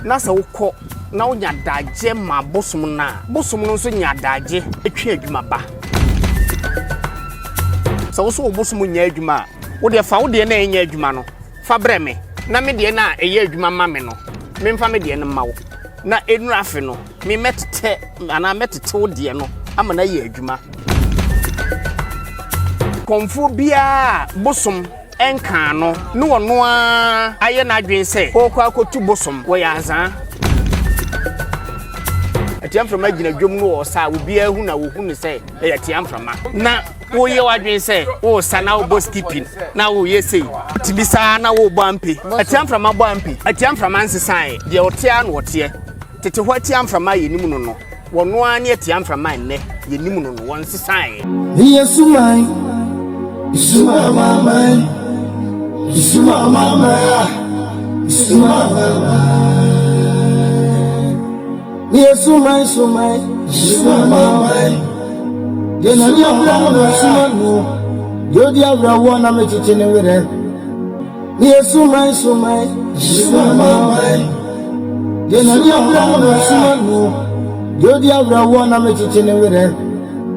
Na sɛ wokɔ na wonya adagyeɛ ma bosom no a, bosom no nso nya adagyeɛ twe adwuma ba. Sɛ wo nso wo bosom nnya adwuma a, wo deɛ fa wo deɛ no a ɛnyɛ adwuma no fa brɛ me, na me deɛ no a ɛyɛ adwuma ma me no, memfa me deɛ no mma wo. Na ɛnnuru afe no, me mɛtetɛ anaa mɛtete wo deɛ no ama no ayɛ adwuma. Kɔmfoɔ biara a bosom. nkaa no ne ɔno ara ayɛ n'adwene sɛ ɔrekɔ akɔtu bosom wɔ Yazaa. Atia mframa gyina dwam no ɔsa a obiara hu na wɔhu no sɛ ɛyɛ atia mframa na woyɛ w'adwene sɛ wosa na wobɔ skipping na woyɛ sei tumi saa na wobɔ ampe atia mframa bɔ ampe atia mframa nsesaeɛ deɛ ɔteɛ a na ɔteɛ Tete hɔ atia mframa a yɛnim no no, wɔno ara ne atia mframa a nnɛ yɛnim no no, wɔnsesaeɛ. Ne yɛ suman, suma amanaman, suma amanaman a, suma amanaman. Ne yɛ suman, suman, suma amanaman, yɛ na ne abrɛ no na suma no, deɛ ɔdi awerɛhoɔ na metete ne werɛ. Yɛ suman suman. Yɛ suman man. Yɛ na ni abira na mo suma no. Yɛ odi abira wɔ na me kyekye ne werɛ.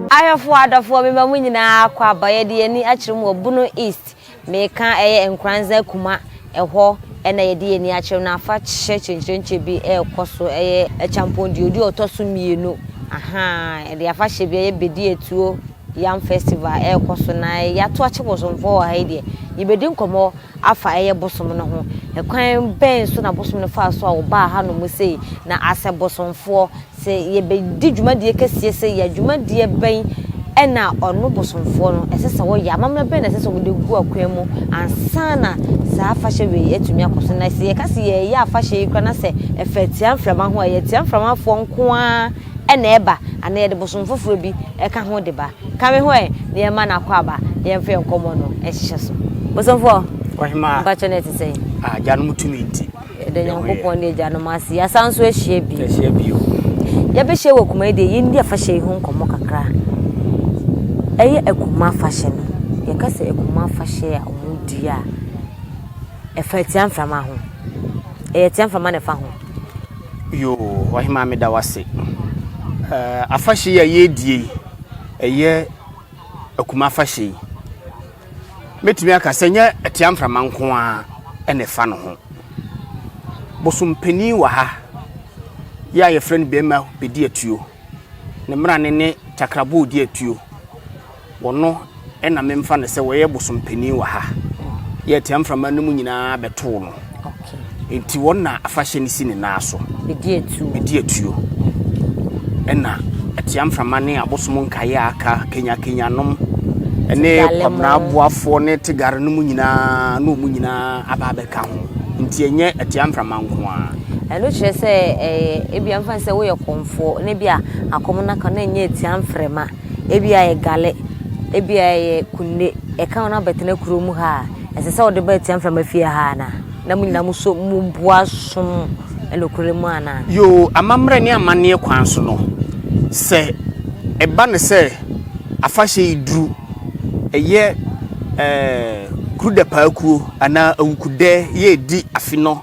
Ahwɛfoɔ adɔfoɔ me ma mo nyinaa akɔ aba yɛde yɛn ani akyerɛ mu wɔ Bono East meka ɛyɛ Nkoranza Kuma ɛhɔ na yɛde yɛn ani akyerɛ mu na afa kyɛ kyenkyerenkyɛ bi ɛkɔ so ɛyɛ kyampɔn deɛ ɔdi ɔtɔ so mmienu ahaa yɛde afa hyɛ bi ɛyɛ Bedi Atuo Yam festival a ɛrekɔ so na yɛato akyɛ bosomfoɔ wɔ ha yi deɛ, yɛbɛdi nkɔmmɔ afa ɛyɛ bosom no ho. Ɛkwan bɛn so na bosom no faa so a wɔbaa hanom sei? Na asɛ bosomfoɔ, sɛ yɛbɛdi dwumadie kɛseɛ sei yɛ a, dwumadie bɛn ɛna ɔno bosomfoɔ no ɛsɛ sɛ wɔyɛ? Amammerɛ bɛn na ɛsɛ sɛ wɔde gu akwan mu ansa na saa afahyɛ wei atumi akɔ so? Na sɛ yɛka sɛ yɛyɛ afahyɛ yi koraa na sɛ ɛfa atia mframa ho a, ɛyɛ atia mframafoɔ nko ara na ɛba, anaa yɛde bosom foforɔ bi ka ho de ba. Ka me ho ɛ, na yɛmma no akwaaba, na yɛmfa yɛn nkɔmmɔ no nhyehyɛ so. Bosomfoɔ, mpakyɛ no ɛte sɛn? Agyanom tumi nti. Yɛda Nyankopɔn ne agyanom ase, yɛasa nso ahyia bi. Ahyia bi o. Yɛbɛhyia wɔ Kumai deɛ, yɛndi afahyɛ yi ho nkɔmmɔ kakra. Ɛyɛ Akuma afahyɛ no. Yɛka sɛ Akuma afahyɛ a wɔdi a, ɛfa Atiamframa ho. Ɛyɛ Atiamframa na ɛfa ho. Yoo ɔhemaa meda wo ase. Ɛɛ afahyɛ yi a yɛredie yi ɛyɛ akuma afahyɛ yi. Mɛtumi aka sɛ nyɛ ɛtea mframa nko ara ɛna ɛfa no ho. Bosom panin wɔ ha yɛ a yɛfrɛ no bɛrima bɛdi atuo. Ne mmara ne ne takraboo di atuo. Wɔno na memfa no sɛ wɔyɛ bosom panin wɔ ha. Yɛ atia mframa no mu nyinaa bɛtow no. Enti wɔn na afahyɛ no si ne nan so. Bedi atuo. Bedi atuo. Ɛna atia mframa ne abosom nkaeɛ a aka kenyakenyanom ne kwabena aboafoɔ ne tegare no mu nyinaa ne wɔn nyinaa aba abɛka ho. Nti ɛnyɛ atia mframa nko ara. ɛno kyerɛ sɛ ɛyɛ ebi amfa sɛ woyɛ kɔmfoɔ na bi a akɔm no aka na ɛnyɛ atia mframa ebi a yɛ gale, ebi a yɛ kunde, yɛka wɔn abɛtena kuro mu ha a, ɛsɛ sɛ wɔde ba atua mframa fie ha anaa? Na mo nyinaa mo so mo bo asom nokorɛ mu anaa? Yoo, amammerɛ ne amanneɛ kwan so no, sɛ ɛba no sɛ afahyɛ yi duru, ɛyɛ ɛɛ Krudapaakuo anaa Awukudɛ yɛ redi afe no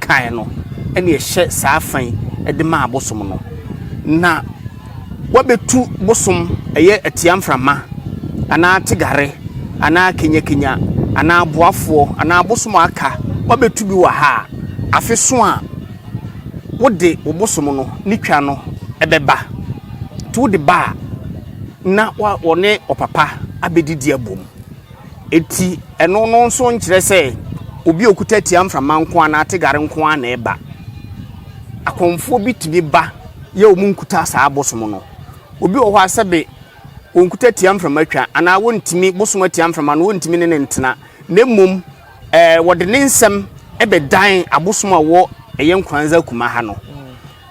kan no na ɛhyɛ saa fa yi de maa bosom no, na wɔabetu bosom ɛyɛ atia mframa anaa tegare anaa kenyakenya anaa aboafoɔ anaa abosom a aka wɔabetu bi wɔ ha a, afe so a wode wo bosom no ne twa no ɛbɛba. Nti wode ba a na wɔne ɔpapa abɛdidi abom. Enti, ɛno no nso nkyerɛ sɛ obi a ɔkuta tia mframa nko ara na ate gare nko ara na ɛba. Akɔmfoɔ bi tumi ba yɛ wɔn nkuta saa abosom no. Obi wɔ hɔ a sɛbe wɔnkuta tia mframa twa anaa wɔntumi bosom atia mframa no wɔntumi ne ne ntena na mmom ɛɛ wɔde ne nsɛm bɛdan abosom a wɔ ɛyɛ nkoranza kuma ha no.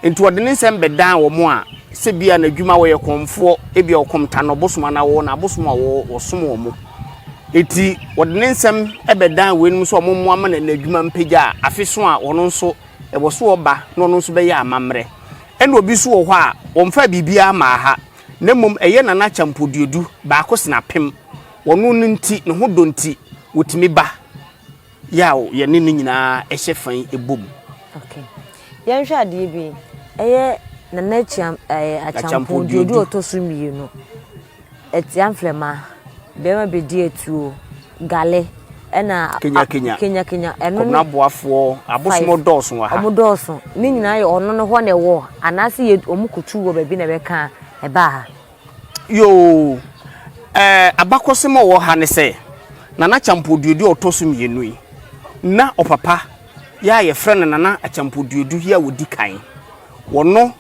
Enti ɔde ne nsɛm bɛdan wɔn a sɛ bia n'adwuma wɔyɛ kɔmfoɔ, ebia ɔkɔm ta no ɔbosom anaa wɔwɔ n'abosom a wɔsom wɔn. Enti ɔde ne nsɛm bɛdan weinom sɛ wɔn mmoa ma n'adwuma mpagya a afe so a ɔno nso ɛwɔ so ɔba na ɔno nso bɛyɛ amammerɛ. Ɛna obi nso wɔ hɔ a wɔmfaa biribiara mmaa ha na mmom ɛyɛ nana akyampoduodu baako sena apem. Ɔno no nti, ne ho dɔ nti, ɔtumi ba. Yaw yɛne no nyinaa hyɛ fa yi bɔ mu. Okay. Yɛnhwɛ adeɛ bi. Ɛyɛ Nana Akyam, ɛɛ, Akyampo Duodu ɔtɔ so mmienu. Ɛtia mfrɛma, bɛrima bɛdi atuo, gale, ɛna kenya kenya kenya kenya ɛno kɔmna aboafoɔ abosom dɔɔso wɔ ha wɔn dɔɔso ne nyinaa yɛ ɔno no hɔ na ɛwɔ anaasɛ yɛ wɔn kutu wɔ baabi na ɛbɛka ɛbaa ha. Yoo ɛɛ abakɔsɛm a ɔwɔ ha ne sɛ Nana Kyampɔduodu a ɔtɔ so mmienu yi na ɔpapa yi a yɛfrɛ no Nana Akyampɔduodu yi a ɔdi kan wɔno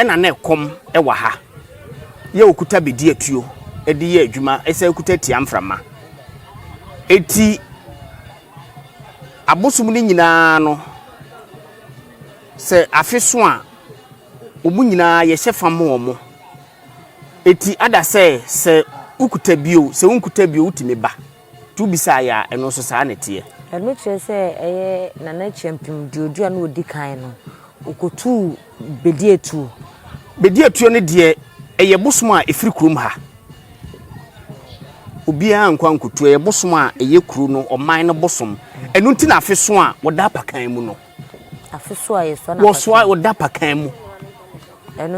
na na ɛkɔm wɔ ha yɛ ɔkuta bɛdi atuo de yɛ adwuma ɛsɛ kuta tia mframa eti abosom no nyinaa no sɛ afeso a Wɔn nyinaa, yɛhyɛ fa ma wɔn. Eti ada sɛ, sɛ wokuta bi oo, sɛ wonkuta bi oo, wotumi ba. Nti wobisaa yɛn a, ɛno nso saa na ɛteɛ. Ɛno kyerɛ sɛ ɛyɛ Nana Kyampim deɛ ɔduru a na ɔdi kan no, ɔkɔtuu Bediatuo. Bediatuo no deɛ, ɛyɛ bosom a ɛfiri kurom ha. Obiara nkɔ ankɔtu. Ɛyɛ bosom a ɛyɛ kuro no, ɔman no bosom. Ɛno nti na afeso a wɔda apakan mu no, wɔsoa wɔda apakan mu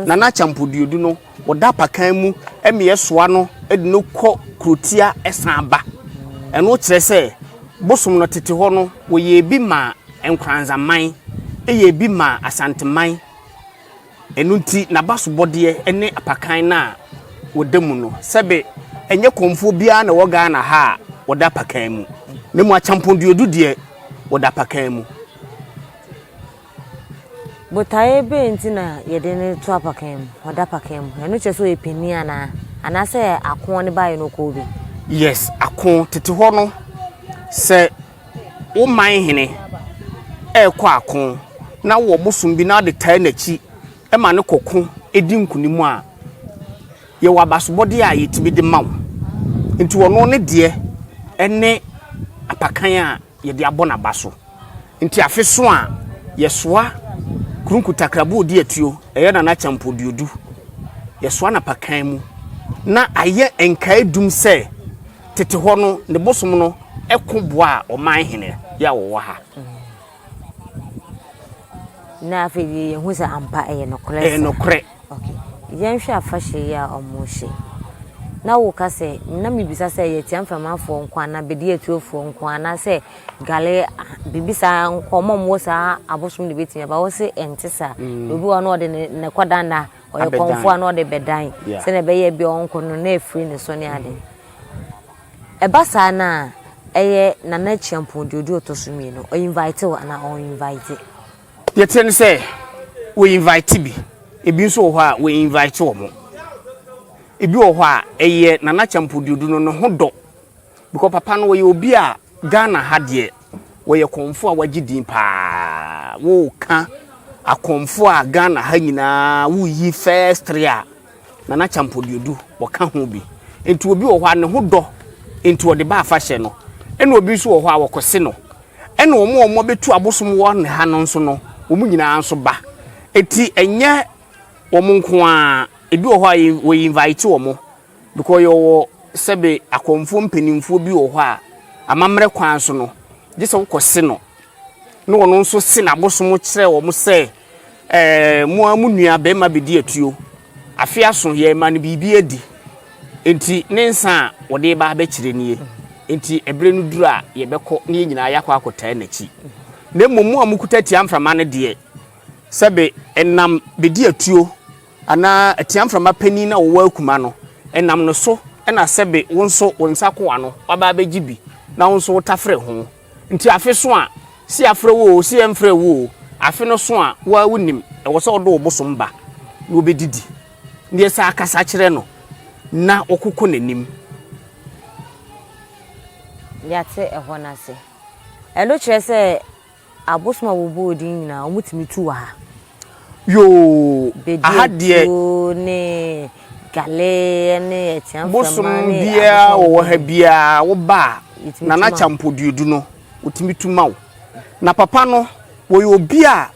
nana akyampo duodu no wɔda apakan mu ɛmeɛ soa no ɛde no kɔ kurotia ɛsan ba ɛno kyerɛ sɛ bosom no tete hɔ no wɔyɛ ebi ma nkranzaman ɛyɛ ebi ma asanteman. Ɛno nti, n'abasobɔdeɛ ne apakan no a wɔda mu no, sɛbe ɛnyɛ kɔmfoɔ biara na ɛwɔ Ghana ha a wɔda apakan mu, na mmom Akyampong Duodu deɛ, wɔda apakan mu. Botaeɛ bɛn nti na yɛde no to apakan mu, ɔda apakan mu? Ɛno kyerɛ sɛ ɔyɛ panin anaa? Anaasɛ ako ne baeɛ na ɔkɔɔ bi? Yes, ako. Tete hɔ no, sɛ wo man hene rekɔ ako na wowɔ bosom bi na wode taa n'akyi ma no kɔko di nkonim a, yɛwɔ abasobɔdeɛ a yɛtumi de ma wo. Nti ɔno ne deɛ ne apakan a yɛde abɔ n'aba so. Nti afe so a yɛsoa kurunku takrabo odi atuo, ɛyɛ Nana Kyampɔ Duodu, yɛsoa n'apakan mu na ayɛ nkae dum sɛ, Tete hɔ no, ne bosom no ko boaa ɔman hene yi a wɔwɔ ha. Na afei deɛ yɛhu sɛ ampa ɛyɛ nokorɛ sɛ. Ɛyɛ nokorɛ. Okay. Yɛnhwɛ afahyɛ yi a wɔhyɛ. Na woka sɛ, na mebisa sɛ ɛyɛ Tia Mframafoɔ nko anaa Bedi Atuofoɔ nko anaa sɛ Gale biribi saa nkɔmmɔ mmɔ saa abosom de bɛtumi aba. Wo se ɛnte saa. Mm. Obi wɔ no ɔde ne kɔdanda Ɔyɛ kɔmfoɔ a na ɔde bɛdan sɛdeɛ ɛbɛyɛ bi a ɔnkɔ no na afiri ne so ne ade. Ɛba saa no a, ɛyɛ Nana Kyiampong deɛ ɔdi ɔtɔ so mmienu. Ɔ invite wo anaa ɔn invite? Deɛ ɛteɛ ne sɛ, wɔ invite bi. Ɛbi nso wɔ hɔ a, wɔ invite wɔn. Ɛbi wɔ hɔ a, ɛyɛ Nana Kyiampong deɛ ɔdi no ne ho dɔ. Because papa no ɔyɛ obi a Ghana ha deɛ. Wɔyɛ kɔmfoɔ a wɔagye din paa. Woka akɔmfoɔ a Ghana ha nyinaa woyi first three a Nana Kyampɔduodu wɔka ho bi. Nti obi wɔ hɔ a ne ho dɔ nti ɔde ba afahyɛ no. Ɛna obi nso wɔ hɔ a wɔkɔse no. Ɛna wɔn a wɔbɛtu abosom wɔ ne ha no nso no, wɔn nyinaa nso ba. Nti ɛnyɛ wɔn nko ara. Ebi wɔ hɔ a wɔinvite wɔn. Because yɛwɔ sɛbe akɔmfoɔ mpaninfoɔ bi wɔ hɔ a, amammerɛ kwan so no, gye sɛ wokɔse no, na ɔno nso se n'abosom kyerɛ wɔn sɛ, Ɛɛ, mo ara mo nua barima bɛdi atuo. Afe aso, yɛmma no biribi adi. Enti ne nsã a wɔde reba abɛkyerɛ nie. Enti ɛberɛ no duru a, yɛbɛkɔ na yɛn nyinaa yɛakɔ akɔtaa n'akyi. Na mmom mo a mokuta tia mframa no deɛ, sɛbe ɛnam bɛdi atuo. Anaa atia mframa panin na ɔwɔ akuma no, ɛnam no so na sɛbe wo nso wo nsa akoa no waba abɛgye bi na wo nso wotafere ho. Nti afe so a, se yɛafrɛ wo oo, se yɛmfrɛɛ wo oo, afe no so a, wo ara wonim, ɛwɔ sɛ wode wo bosom ba na wobɛdidi. Neɛ saa kasa kyerɛ no na wokoko n'anim. Yɛate ɛhɔ no ase. Ɛno kyerɛ sɛ. Abosom a wɔbɔɔ din nyinaa, wɔtumi tu wɔ ha. Yoo! Aha deɛ. Bedeatuo ne Gale ne Atia Mframa ne abosom a wɔbɔɔ din. Bosom biara wɔwɔ ha biara woba a, Nana Kyampo Duodu no, wɔtumi tu ma wo. Na papa no, wɔyɛ obi a,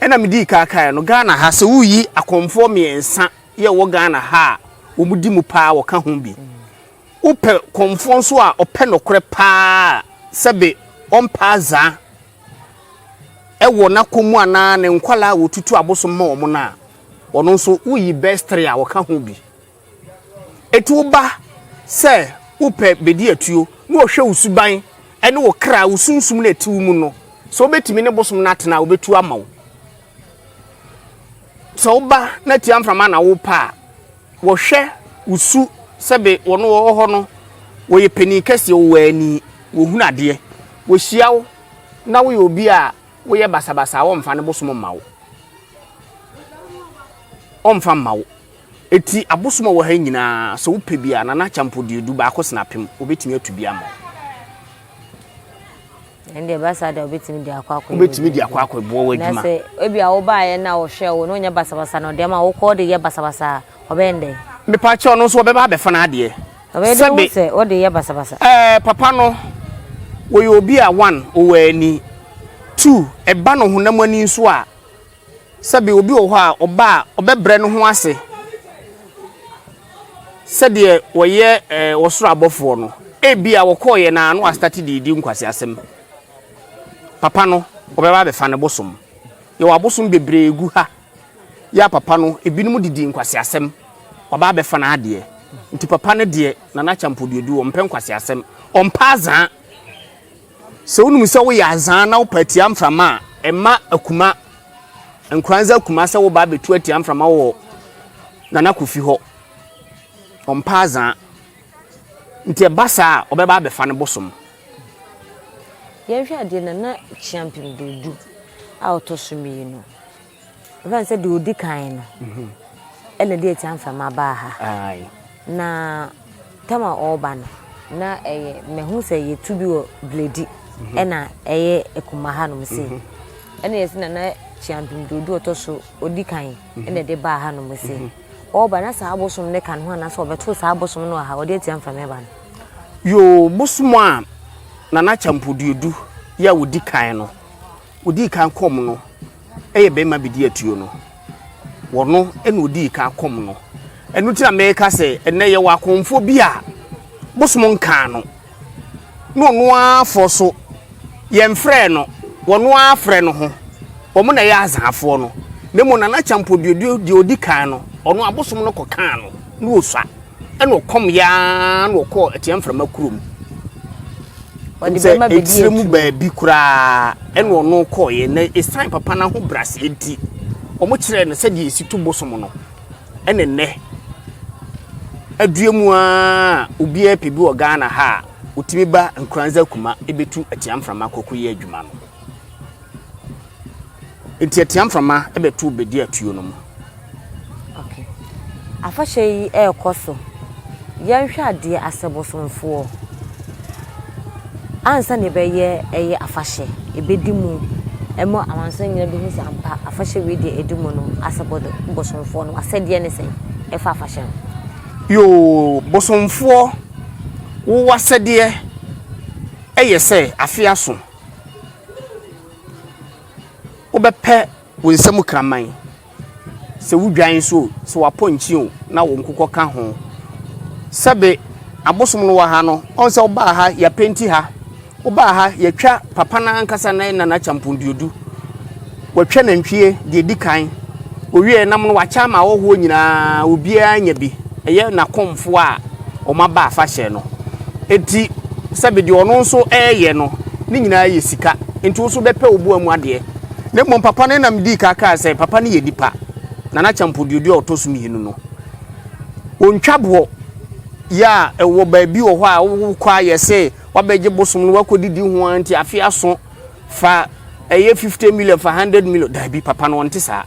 ɛna medii ka kaeɛ no, Ghana ha, sɛ woreyi akɔmfoɔ mmiɛnsa yɛ ɛwɔ Ghana ha a, wɔdi mu paa, wɔka ho bi. Wopɛ kɔmfoɔ nso a ɔpɛ nokorɛ paa a, sɛbe ɔmpɛ azaa wɔ n'akɔm mu anaa ne nkwadaa a wɔtutu abosom ma wɔn no a, ɔno nso woyi best three a ɔka ho bi. Ɛti woba sɛ wopɛ bɛdi atuo na ɔhwɛ wo suban ne wo kra, wo sunsum no a ɛte wo mu no, sɛ wobɛtumi ne bosom no atena a, ɔbɛtu ama wo. Sɛ woba na tia mframa na wopɛ a, Wɔhwɛ wo su sɛbe wɔn wɔ hɔ no wɔyɛ panin kɛseɛ, wɔwɔ ani, wɔhunu adeɛ, wɔhyia wo na woyɛ obi a woyɛ basabasa a wɔmfa ne bosom mma wo. Wɔmfa mma wo. Eti abosom a wɔ ha nyinaa sɛ wopɛ bi a, Nana Akyampo deɛ du baako sena apem, wɔbɛtumi atu bi ama wo. ɛnde ɛba saa deɛ wobɛtumi de akɔ akɔ wobɛtumi de akɔ akɔ boɔ w'adwuma na sɛ ebi a wobaeɛ na wɔhwɛ wo na ɔnyɛ basabasa na ɔde ama wokɔ de yɛ basabasa a ɔbɛyɛ ndɛ mepaakyɛ ɔno nso ɔbɛba abɛfa no adeɛ sɛbe sɛ ɔde yɛ basabasa ɛɛ papa no wɔyɛ obi a one ɔwɔ ani two ɛba no honam ani nso a Sɛbe obi wɔ hɔ a ɔba a, ɔbɛbrɛ ne ho ase sɛdeɛ wɔyɛ ɔsoro abɔfoɔ no. Ebia wɔkɔeɛ no ara na wɔastate de redi nkwaseasɛm. Papa no, wɔbɛba abɛfa no bosom. Yɛwɔ abosom bebree gu ha. Yɛ a papa no, ebinom de di nkwaseasɛm. Wɔaba abɛfa n'adeɛ. Nti papa no deɛ, Nana Kyampɔduodu, ɔmpɛ nkwaseasɛm. Ɔmpɛ azaa. Sɛ wonim sɛ woyɛ azaa na wopɛ atia mframa a, ɛma akuma, nkoranza akuma sɛ woba abɛtu atia mframa wɔ Nana Kofi hɔ. Ɔmpɛ azaa. Nti ɛba saa a, ɔbɛba abɛfa no bosom. Yɛnhwɛ adeɛ Nana Kyeampem Durdu a ɔtɔ so mmienu. Ɛfa ne sɛ deɛ ɔdi kan no ɛna ɛde atia mframa baa ha. Aye. Na tam a ɔreba no na ɛyɛ mɛhu sɛ yɛtu bi wɔ Bledi mhm. ɛna ɛyɛ akuma ha nom sei. Mhm. Ɛna yɛsi na na kyiampem de odu ɔtɔ so ɔdi kan mhm. ɛna ɛde baa ha nom sei. Ɔreba na saa abosom ne ka ne ho anaasɛ ɔbɛto saa abosom no wɔ ha ɔde atia mframa ɛba no. Yoo bosom a nana kyampodiedu yɛ a ɔdi kan no ɔdi kan kɔm no yɛ bɛɛma bɛdi atuo no wɔno na ɔdii kan kɔm no ɛno ti na mɛka sɛ ɛnɛ yɛwɔ akɔmfoɔ bi a bosom nkaa no na ɔno afɔ so yɛmfrɛ no wɔno afrɛ no ho wɔn na ɛyɛ azaafoɔ no na mmom nana kyampɔ deɛ ɔdi kan no ɔno abosom no kɔkaa no na ɔsua Ɛna ɔkɔm yɛ ara na ɔkɔɔ Atia Mframa kurom. Sɛ ɛtire mu baabi koraa ɛna ɔno kɔɔeɛ na ɛsiane papa no ahobrɛaseɛ nti wɔn kyerɛɛ no sɛdeɛ ɛsi to bosom no ɛne nnɛ adua mu a obiara pɛ bi wɔ Ghana ha a ɔtumi ba Nkoranza Kuma ɛbɛtu Atia Mframa kɔkɔyɛ adwuma no. Enti atia mframa bɛtow bedi atuo no mu. Okay. Afahyɛ yi ɛrekɔ so. Yɛnhwɛ adeɛ asɛ bosomfoɔ. Ansa na ɛbɛyɛ ɛyɛ afahyɛ, ɛbɛdi mu. Ɛma amansan nyina de hu sɛ ampa afahyɛ wei deɛ ɛdi mu no asɛ bosomfoɔ no. Asɛdeɛ ne sɛn ɛfa afahyɛ no? Yoo, bosomfoɔ wo asɛdeɛ ɛyɛ sɛ afe aso. Wobɛpɛ wo nsa mu kraman, sɛ wo dwan nso o, sɛ w'apɔnkye o, na wo nkokɔ ka ho. Sɛbe abosom no wɔ ha no, ɔn sɛ wobaa ha yɛapenti ha, wobaa ha yɛatwa papa no ankasa ne nana kyampɔn duodu, wɔatwa nantwie deɛ ɛdi kan. Ɔwiee nam no wakyɛ ama ahɔhoɔ nyinaa, obiara anya bi, ɛyɛ n'akomfoɔ a wɔaba afahyɛ no nti, sɛbe deɛ ɔno nso reyɛ no, ne nyinaa yɛ sika, nti wo nso bɛpɛ wo boa mu adeɛ. Na mmom papa no nam dii ka kaa sɛ, papa no yɛ nipa, Nana Kyampɔ Duoduo a ɔtɔ so mmienu no, ɔntwa boɔ yɛ a ɛwɔ baabi wɔ hɔ a wokɔ a yɛse wabɛgye bosom no wakɔdidi ho ara nti afe aso Fa ɛyɛ fifte miliɔn fa handɛd miliɔn daabi papa no ɔnte saa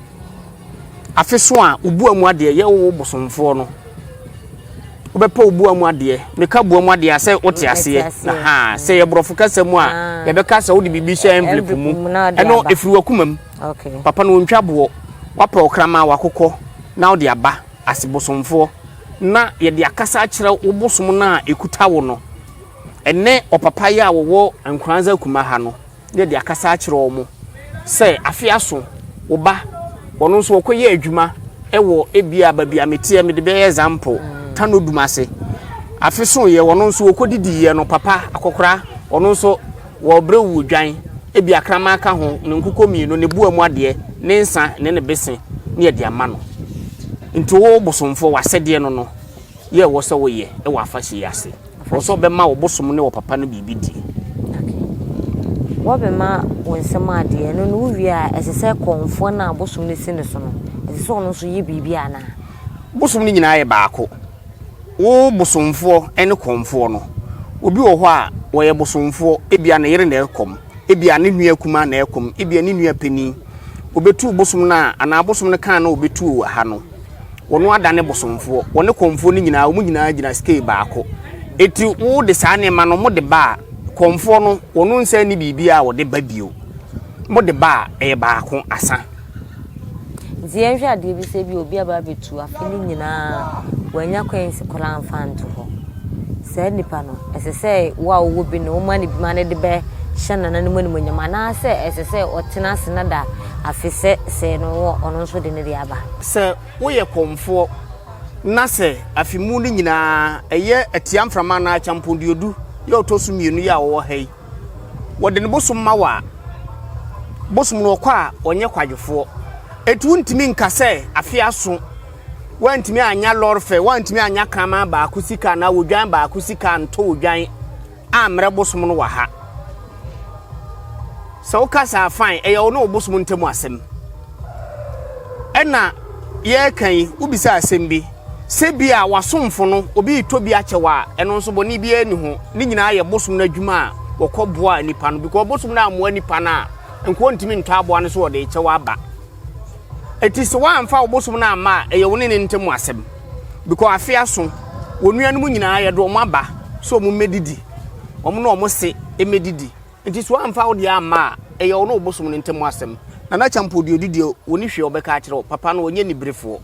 afe so a wo bua mu adeɛ yɛ wo bosomfoɔ no wobɛpɛ wo bua mu adeɛ meka bua mu adeɛ a sɛ wote aseɛ na ha sɛ yɛ borɔfo kasa mu a yɛbɛka sɛ wode biribi hyɛ envelope mu ɛno ɛfiri wakoma mu papa no ɔntwa boɔ wapɛ ɔkrama wakokɔ na wode aba ase bosomfoɔ na yɛde akasa akyerɛ wo bosom no a ɛkuta wo no Ɛnnɛ ɔpapa yi a ɔwɔ Ankoranza Akuma ha no yɛ de akasa akyerɛ wɔn sɛ afe aso wo ba ɔno nso ɔkɔ yɛ adwuma wɔ ebia baabi a meteɛ mede bɛyɛ example Tano Dumase afe so yɛ ɔno nso ɔkɔ didi yɛ no papa akɔkora ɔno nso wɔbrɛ wu dwan ebia kraman ka ho ne nkokɔ mmienu ne boa mu adeɛ ne nsa ne ne bese ne yɛ de ama no nti wo bosomfoɔ w'asɛdeɛ no no yɛ wɔ sɛ woyɛ wɔ afahyɛ yi ase. Wɔpɛ sɛ wɔbɛma wo bosom ne wo papa no biribi di. Okay. Wɔbɛma wo nsɛm adeɛ, ɛno no wowie a, ɛsɛ sɛ kɔmfoɔ no a bosom no si ne so no, ɛsɛ sɛ ɔno nso yɛ biribi anaa? Bosom no nyinaa yɛ baako. Wo bosomfoɔ ne kɔmfoɔ no, obi wɔ hɔ a wɔyɛ bosomfoɔ, ebia ne yere na ɛkɔm, ebia ne nua kumaa na ɛkɔm, ebia ne nua panin. Wɔbɛtu bosom no a, anaa bosom no kan na wɔbɛtu wɔ ha no. wɔn adane bosomfoɔ, wɔne kɔmfoɔ no nyinaa, wɔn nyinaa gyina scale baako. Eti wode saa nneɛma no, wɔde ba a, kɔmfoɔ no, wɔn nsa ni biribi a wɔde ba bio. Wɔde ba a, ɛyɛ baako asa. Nti yɛnhwɛ adeɛ bi sɛ bi obi aba abɛtu afe no nyinaa wanya coins koraa mfa nto hɔ saa nipa no ɛsɛ sɛ wo a wowɔ bi no woma no bima no de bɛhyɛ nananom animonyam anaasɛ ɛsɛ sɛ ɔtena ase na da Afe sɛ sɛɛ no wɔ ɔno nso de ne deɛ aba. Sɛ woyɛ kɔmfoɔ na sɛ afe mu no nyinaa ɛyɛ atiamframa anaa akyampɔnduodu yɛ a ɔtɔ so mmienu yɛ a ɔwɔ ha yi, wɔde ne bosom ma wo a, bosom no ɔkɔ a ɔnyɛ kwadwofoɔ. Enti wontumi nka sɛ afe aso woantumi annya lɔre fɛ, woantumi annya kraman baako sika anaa odwan baako sika antɔ odwan. A Mmerɛ bosom no wɔ ha. Sɛ woka saa fine, ɛyɛ wo ne wo bosom ntam asɛm. Ɛna yɛreka yi, wobisa asɛm bi sɛ bi a w'asomfo no obi retɔ bi akyɛ wo a, ɛno nso bɔne biara ni ho. Ne nyinaa yɛ bosom no adwuma a wɔkɔ boa nipa no because bosom no ammoa nipa no a, nka ɔntumi ntɔ aboa no so ɔde rekyɛ wo aba. Eti sɛ woamfa wo bosom no amma a, ɛyɛ wo ne ne ntam asɛm. Bkɔ afe aso, wɔn nuanom nyinaa yɛde wɔn aba sɛ wɔn mmɛdidi, wɔn ne wɔn se mmɛdidi, nti sɛ wɔamfa wo deɛ amma a, ɛyɛ wo ne wo bosom no ntam asɛm. Nana Kyampoo deɛ ɔdi deɛ ɔni hwee a ɔbɛka akyerɛ wo, papa no ɔnyɛ aniberefoɔ.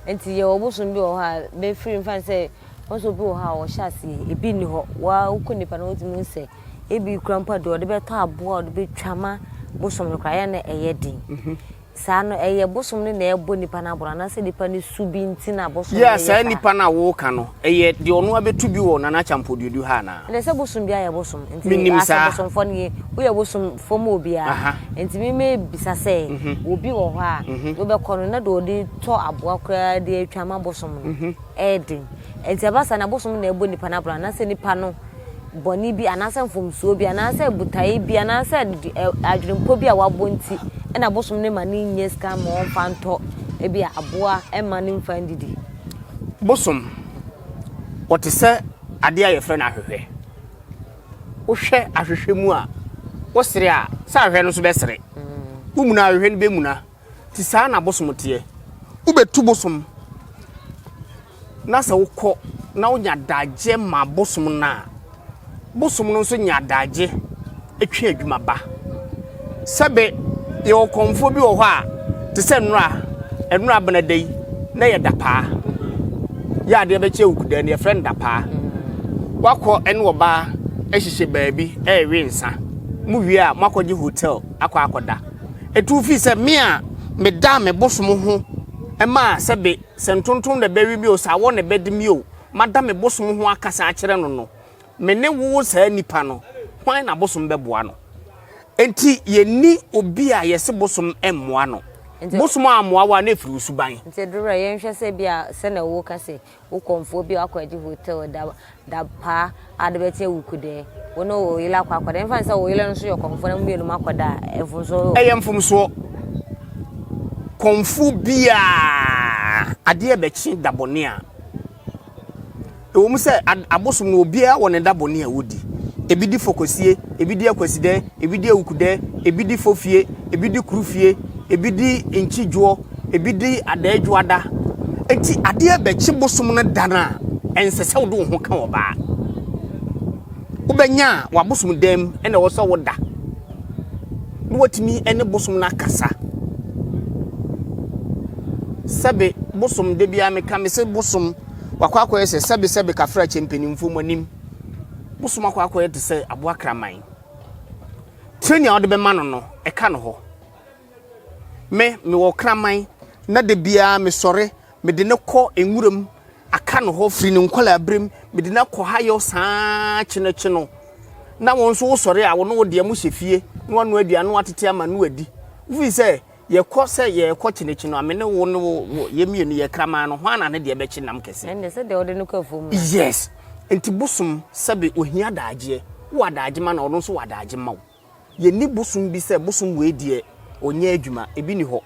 Nti yɛwɔ bosom bi wɔ hɔ a bɛfiri mfa no sɛ wɔn sɛ obi wɔ hɔ a ɔhyɛ aseɛ, ebi nni hɔ, woaa wokɔ nipa no hɔ a wotumi hu sɛ ebi kura mpo a deɛ ɔde bɛtɔ aboa a ɔde bɛtwa ma bosom no koraa yɛ a na ɛyɛ den. Saa no, ɛyɛ bosom no na ɛrebɔ nipa no aboro anaasɛ nipa no su bi nti na bosom no yɛ saa? Yɛ saa nipa no a woreka no, ɛyɛ deɛ ɔno abɛtu bi wɔ Nana Acheampong Duodu ha anaa? Ɛnna sɛ bosom bi ayɛ bosom nti. Menim saa. Asɛ bosomfoɔ no yɛ, woyɛ bosomfoɔ mu obiara. Nti me mebisa sɛ, obi wɔ hɔ a, deɛ wobɛkɔ no na deɛ ɔde tɔ aboa koraa de atwa ama bosom no, ɛyɛ den. Nti ɛba saa na bosom na ɛbɔ nipa no aboro anaasɛ nipa no. bɔne bi anaasɛ mfomsoɔ bi anaasɛ botaeɛ bi anaasɛ adwenepɔ bi a wabɔ nti na bosom no ma no nyɛ sika ma ɔmfa ntɔ ebi a aboa ma no mfa ndidi. Bosom, wɔte sɛ adeɛ a yɛfrɛ no ahwehwɛ. Wohwɛ ahwehwɛ mu a, wosere a, sɛ ahwehwɛ no nso bɛsere. Womuna a, ahwehwɛ no bɛmuna. Nti saa na bosom teɛ. Wobɛtu bosom na sɛ wokɔ na wonya adagyeɛ ma bosom no a, bosom no nso nya adagyeɛ twe adwuma ba. Sɛbe yɛwɔ kɔmfoɔ bi wɔ hɔ a, te sɛ nnora, nnora benada yi na yɛ dapaa. Yɛ adeɛ bɛkyɛ wukudaa no yɛfrɛ no dapaa. Wakɔ ɛne ɔbaa ɛhyehyɛ baabi ɛrewe nsa. Mo wie a moakɔgye hotel akɔ akɔda. etu fii sɛ me a medaa me bosom ho maa sɛ be sɛ ntontom na ɛbɛwe me o, sɛ awɔ na ɛbɛde me o, mada me bosom ho akasa akyerɛ no no, me ne wo saa nipa no, hwan na bosom bɛboa no? Enti yɛnni obi a yɛse bosom mmoa no. Bosom ammoa wo a, na ɛfiri wo suban. Nti Dorɛ, yɛnhwɛ sɛ bi a sɛnea woka sei, Wo kɔmfoɔ bi akɔ agye hotel da da pa a de bɛte awuku dɛ. Wo ne wo yele akɔ akɔda. Ɛmfa ne sɛ wo yele no nso yɛ kɔmfoɔ na mo mmienu mo akɔda a, mfomsoɔ wɔ. Ɛyɛ mfomsoɔ. Kɔmfoɔ biara adeɛ bɛkye da bɔne a. Ɛwɔ mu sɛ abosom no obiara wɔ ne da bɔne a ɔdi. Ebi di fɔkɔsie, ebi di akwasidɛ. ebi di awukudɛ, ebi di fofie, ebi di kurufie, ebi di nkyidwoɔ, ebi di adaadwoada. Enti adeɛ bɛkye bosom no da no a, ɛnsɛ sɛ wode wo ho ka ɔbaa. Wobɛnya a w'abosom dan mu ɛna ɛwɔ sɛ woda na watumi ne bosom no akasa. Sɛbe bosom da biara meka me sɛ bosom wakɔ akɔyɛ sɛ sɛbe sɛbe kafra kyɛ mpanimfoɔ mu anim. Bosom akɔ akɔyɛ te sɛ aboa kraman. Trenee a ɔde bɛma no no, ɛka no hɔ. Me, mewɔ ɔkraman, na da biara mesɔre, mede no kɔ nwuram, aka no hɔ firi ne nkɔlaaberem, mede no akɔ hayɔ saa kyenekye no. Na wo nso wosɔre a, wo ne wo deɛ mohyɛ fie na wanoa aduane na watete ama no wadi. Wofiri sɛ, Yɛkɔ sɛ yɛrekɔ kye n'akyi no, a me ne wo ne wo wo yɛ mmienu yɛ kraman no, hwan na ne deɛ bɛkye nam kɛse? Ɛnde sɛ deɛ wɔde no kɔ afuom no. Yes. Nti bosom sɛbe ohia daagyeɛ, wowɔ adaagye ma no a ɔno nso wɔ adaagye mma wo. Yɛnni bosom bi sɛ bosom wei deɛ ɔnyɛ adwuma, ebi nni hɔ.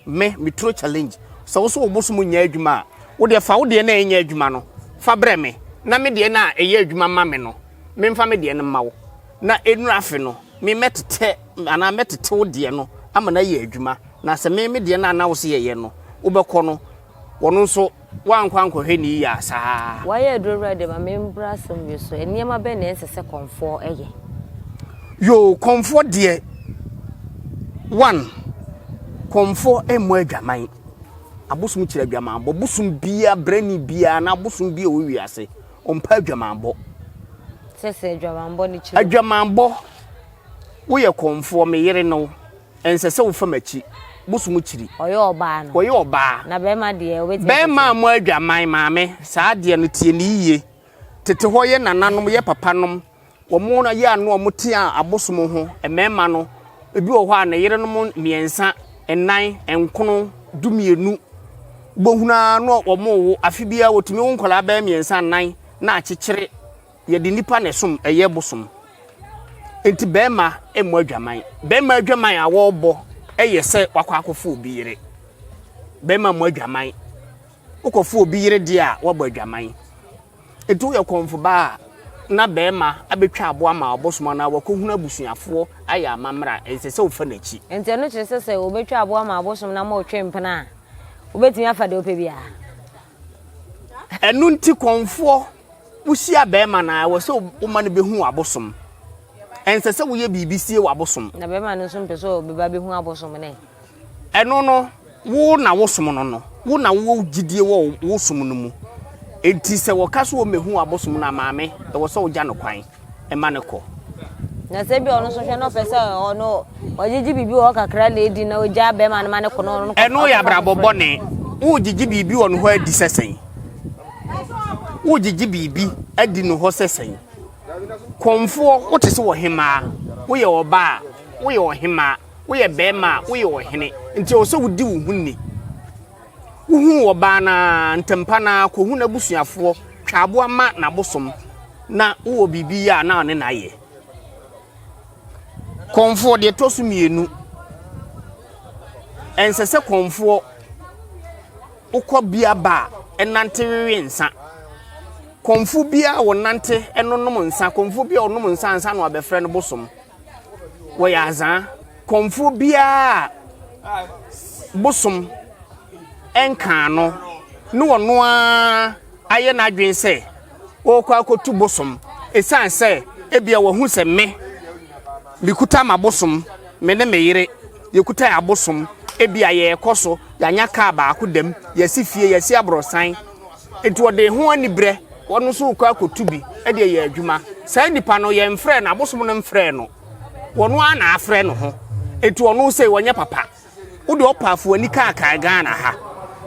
Me, me turo challenge. Sɛ wo nso wo bosom nyɛ adwuma a, wo deɛ fa wo deɛ no a ɛnyɛ adwuma no fa brɛ me na me deɛ no a ɛyɛ adwuma ma me no, memfa me deɛ no mma wo. Na ɛnnuru afe no, me mɛtetɛ anaa mɛtete wo deɛ no ama no ayɛ adwuma, na sɛ me me deɛ no a na wo se yɛyɛ no, wobɛkɔ no, wɔno nso woankɔ ankɔhwɛ ne yiye a, saa. Wayɛ aduro wura de ma me mmra asɛm wie so, nneɛma bɛn na ɛnsɛ sɛ kɔmfoɔ yɛ? Yoo, kɔmfoɔ deɛ, one, kɔmfoɔ mmɔ adwaman, abosom kyerɛ adwamanbɔ, bosom biara, brɛni biara anaa abosom biara a ɛwɔ wiase, ɔmpa adwamanbɔ. sɛ sɛ adwamanbɔ no kyerɛ. adwamanbɔ woyɛ kɔnfoɔ me yere no ɛnsɛ sɛ wofa m'akyi bosom kyiri. ɔyɛ ɔbaa no. ɔyɛ ɔbaa. na bɛrima deɛ ɔbɛtumi. bɛrima a mo adwaman maame saa adeɛ no tie ne yiye tete hɔ yɛ nananom yɛ papanom. Wɔyɛ a na wɔtea abosom ho mmarima no, ebi wɔ hɔ a ne yerenom mmiɛnsa, nnan, nkron, dumienu. Wobɛhunu ara na wɔwo, afe biara wɔtumi wo nkwadaa bɛyɛ mmiɛnsa nnan na akyekyere. Yɛde nnipa na ɛsom, ɛyɛ bosom. Nti bɛrima mmɔ adwaman. Bɛrima adwaman a wɔrebɔ yɛ sɛ wakɔ akɔfo obi yere. Bɛrima mmɔ adwaman. Wokɔfo obi yere deɛ a, woabɔ adwaman. Enti woyɛ kɔmfo baa a, na barima abɛtwa aboa ma ɔbosom anaa wakɔhunu abusuafoɔ ayɛ amammerɛ a, ɛnsɛ sɛ wofa n'akyi. Enti ɛno kyerɛ sɛ sɛ wɔbɛtwa aboa ma ɔbosom na moretwe mpena a, wobɛtumi afa deɛ wopɛ biara? Ɛno nti kɔmfoɔ, wohyia barima no a, ɛwɔ sɛ woma no bɛhu w'abosom. Ɛnsɛ sɛ woyɛ biribi sie w'abosom. Na barima no nso mpɛ sɛ ɔbɛba bɛhu abosom no ɛ? Ɛno no, wo na wosom no no, wo na wowɔ gyidie wɔ wo som no mu. Enti sɛ wɔka sɛ wɔmmɛhu w'abosom no a, Maame, ɛwɔ sɛ wogya no kwan ma no kɔ. Na sɛ ebia ɔno nso hwɛ na ɔpɛ sɛ ɔno ɔgyegye biribi wɔ hɔ kakra na edi na ogyaa bɛrima no ma no kɔ na ɔno no kɔ. Ɛno yɛ abrabɔ bɔne. Wogyegye biribi wɔ no hɔ adi sɛ sɛn? Wogyegye biribi adi no hɔ sɛ sɛn? Kɔmfoɔ, wote sɛ ɔhemmaa, woyɛ ɔbaa a, woyɛ ɔhemmaa. Woyɛ barima a, woyɛ ɔhene, nti ɛwɔ sɛ wodi wo ho ni. Wohuu ɔbaa no ara, ntɛmpa no ara kɔhu n'abusuafoɔ, twa aboa ma n'abosom, na wowɔ biribi yɛ a na ɔne no ayɛ. Kɔmfoɔ, deɛ ɛtɔ so mmienu, ɛnsɛ sɛ kɔmfoɔ wokɔ bia ba a ɛnante wewe nsa. Kɔmfo biara wɔnante ɛnonom nsa, kɔmfo biara wɔnom nsa ansa na wabɛfrɛ no bosom. wɔyɛ adza kɔmfo biara a bosom nnkaa no na ɔno ara ayɛ n'adwen sɛ ɔrekɔ akɔtu bosom esiane sɛ ebia wahu sɛ me, mekuta m'abosom, me ne me yere yɛkuta yɛn abosom, ebia yɛrekɔ so, yɛanya kaa baako dam, yɛasi fie, yɛasi aborɔsan. Enti wɔde ho aniberɛ, wɔn nso rekɔ akɔtu bi de ayɛ adwuma. Saa nipa no, yɛmfrɛɛ no, abosom no mfrɛɛ no. Wɔn ara na afrɛ no ho. Enti wɔn sei, wɔnyɛ papa. Wode ɔpaafo ani kaakaa Ghana ha.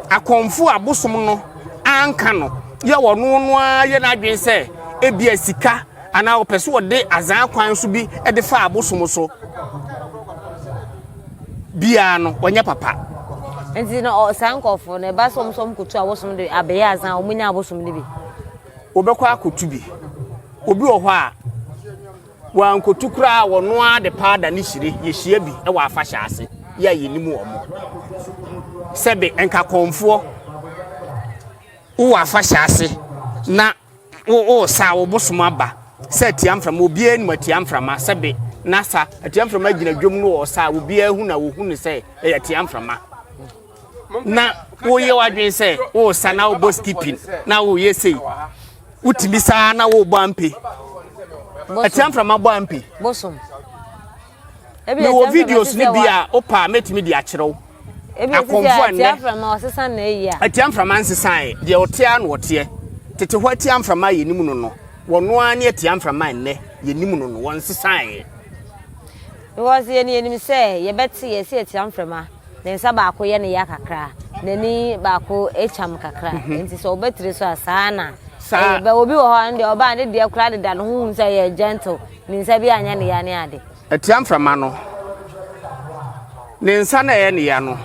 Akɔmfo abosom no anka no yɛ wɔn no ara yɛ n'adwene sɛ ebia sika anaa ɔpɛ sɛ wɔde azan kwan so bi de fa abosom so. biara no ɔnyɛ papa. nti na saa nkɔfoɔ no ɛba sɛ ɔmo sɛ ɔmo kotu abosom de abɛyɛ asan a ɔmo nya abosom no bi. wɔbɛkɔ akotu bi obi wɔ hɔ a wɔankotu koraa wɔno ara de paada ne hyire yɛhyia bi wɔ afahyɛ ase yɛ a yɛnim wɔn mo sɛbe nkakɔnfoɔ wowɔ afahyɛ ase na wo wo sa wo bosom aba sɛ atia mframa obiara anim atia mframa sɛbe na sa atia mframa gyina dwom no wɔ sa obiara hu na wɔhu no sɛ ɛyɛ atia mframa na woyɛ w'adwene sɛ wo sa na wobɔ skipping na woyɛ sei wotumi saa na wobɔ ampe atia mframa bɔ ampe bosom Mewɔ videos no bi a wopɛ a mɛtumi de akyerɛ wo. Akɔmfo a nnɛ atia mframa nsesaeɛ deɛ ɔteɛ a na ɔteɛ tete hɔ atia mframa a yɛnim no no wɔno ara ne atia mframa nnɛ yɛnim no no wɔnsesaeɛ. Because yɛn yɛnim sɛ yɛbɛte yɛ sɛ atia mframa ne nsa baako yɛ ne ya kakra n'ani baako kyam kakra mhm. nti sɛ ɔbɛtiri so a saa na saa eh, obi wɔ hɔ a ne deɛ ɔbaa ne deɛ koraa deda ne ho hu sɛ yɛ gentle Ne nsa bi anyɛ ne ya ne ade. Atia mframa no. Ne nsa na ɛyɛ ne ya no,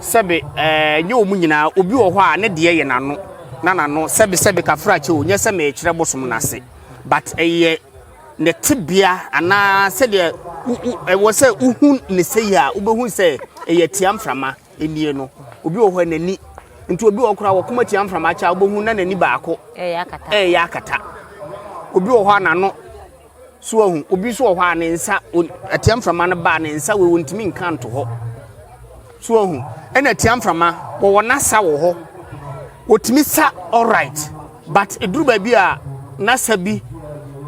sɛbe ɛɛ nyɛ wɔn nyinaa, obi wɔ hɔ a ne deɛ yɛ n'ano, na n'ano sɛbe sɛbe kafrakyɛ o, nyɛ sɛ merekyerɛ bosom no ase, but ɛyɛ ne tebea anaa sɛdeɛ wo wo ɛwɔ sɛ wohu ne sɛyi a wobɛhu sɛ ɛyɛ atia mframa. nie no obi wɔ hɔ a n'ani nti obi wɔ koraa wɔkoma tia mframa akyɛ a wobɛhu na n'ani baako ɛyɛ akata ɛyɛ akata obi wɔ hɔ a n'ano so ahu obi nso wɔ hɔ a ne nsa atia mframa no baa ne nsa wei wɔntumi nka nto hɔ so ahu ɛna atia mframa wɔwɔ n'asa wɔ hɔ wɔtumi sa alright but ɛduru baabi a n'asa bi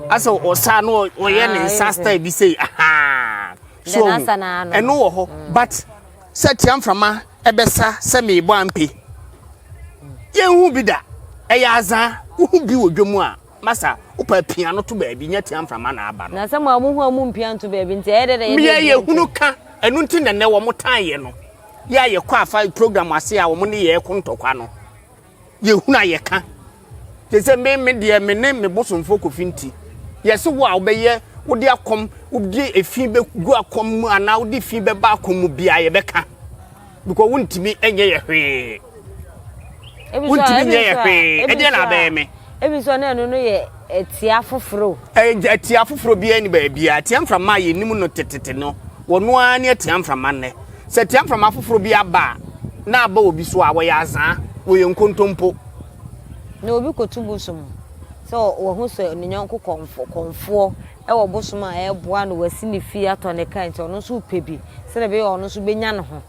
asɛ ɔsa no ɔyɛ ne ah, nsa style bi sei ahaa so ahu ɛno wɔ hɔ but Sɛ tia mframa ɛbɛsa sɛ meebɔ ampe Yɛnhu bi da ɛyɛ azaa Wohu bi wɔ dwa mu a masa Wopaa pia no to baabi nyɛ tia mframa na aba no Na sɛ moa mohu a mo mpia nto baabi Nti ɛyɛ dɛ dɛ yɛde Mmea yɛ hunu ka ɛno nti na nɛ wɔn tan yɛ no Yɛ a yɛkɔ afa program ase a wɔn ne yɛɛ ko ntɔkwa no Yɛhunu a yɛka. Te sɛ me me deɛ me ne me bosomfoɔ Kofi nti. Yɛse wo a wobɛyɛ wode akɔm wode efi bɛgu akɔm mu anaa wode fi bɛba akɔm mu biara yɛbɛka. Because wontumi nyɛ yɛ hwee. Wontumi nyɛ yɛ hwee. Ɛdeɛ na abɛyɛ me. Ebi nso na ɛno no yɛ atia foforɔ. Atia foforɔ biara ni baabiara. Atia mframa a yɛnim no tetete no wɔn ara ne atia mframa nnɛ. Sɛ tia mframa foforo bi aba a, na aba obi so a, wɔyɛ azaa, wɔyɛ nkontompo. Na obi kotu bosom sɛ wahu sɛ ne yɔnko kɔmfo, kɔmfoɔ, wɔ bosom a ɛreboa no, wasi ne fie, atɔ ne ka, nti ɔno nso repɛ bi sɛdeɛ ɛbɛyɛ a ɔno nso bɛnya ne ho,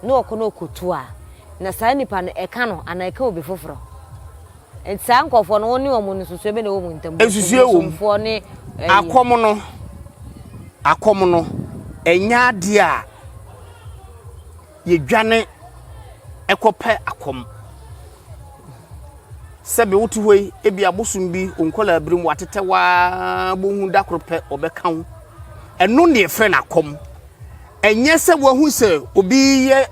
na ɔkɔ na ɔkɔtu a, na saa nipa no, ɛka no anaa ɛka obi foforɔ. Nti saa nkorɔfoɔ no wo ne wɔn nsusuɛ bɛ na ɛwɔ wɔn ntam? Nsusuɛ wɔ mu. Akɔm no, akɔm no, ɛnyɛ adeɛ a yɛdwane kɔpɛ akɔm. Sɛbe wote hɔ yi, ebi abosom bi wo nkɔlaa birim watetɛ waa bohu da koro pɛ ɔbɛka wo. Ɛno na yɛfrɛ no akɔm. Ɛnyɛ sɛ wahu sɛ obi yɛ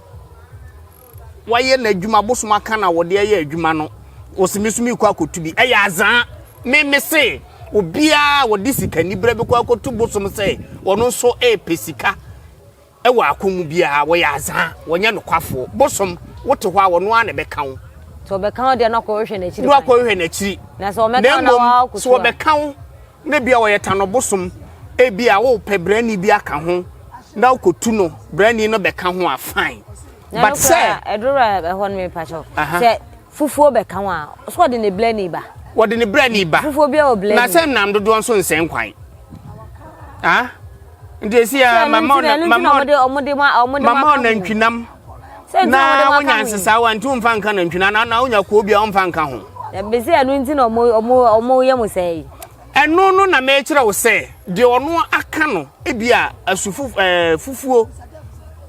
Wayɛ n'adwuma bosom aka na wɔde ayɛ adwuma no wɔsi me so mekɔ akɔtu bi ɛyɛ azaa me me se obiara wɔde sika nibrɛ bɛkɔ akɔtu bosom sɛ wɔno nso ɛɛpɛ sika ɛwɔ ako mu biara wɔyɛ azaa wɔnyɛ nokwafoɔ bosom wote hɔ a wɔno ara na ɛbɛka wo sɛ ɔbɛka wo deɛ na ɔkɔhwehwɛ n'akyiri na mmom sɛ ɔbɛka wo Na ebia ɔyɛ tano bosom, ebia wopɛ brɛni bi aka ho na wokotu no, brɛni no bɛka ho a fine. But sɛ ɛdoro ɛhɔ no mepa kyɛw. Sɛ fufuo bɛka ho a, so ɔde ne brɛni ba? Wɔde ne brɛni ba. Fufuo bi a wɔ brɛni. Na sɛ nam dodoɔ nso nsɛ nkwan. Ah? Nti esi a mama ɔna mama ɔna mama ɔna ntwinam. na wonya nsesaa wa nti womfa nka nantwi na na wonya kuo bi a womfa nka ho bɛsɛ ɛno nti na ɔmoyɛ mo sɛ yi ɛno no na mekyerɛ wo sɛ deɛ ɔno aka no ebi a asu eh, fufuo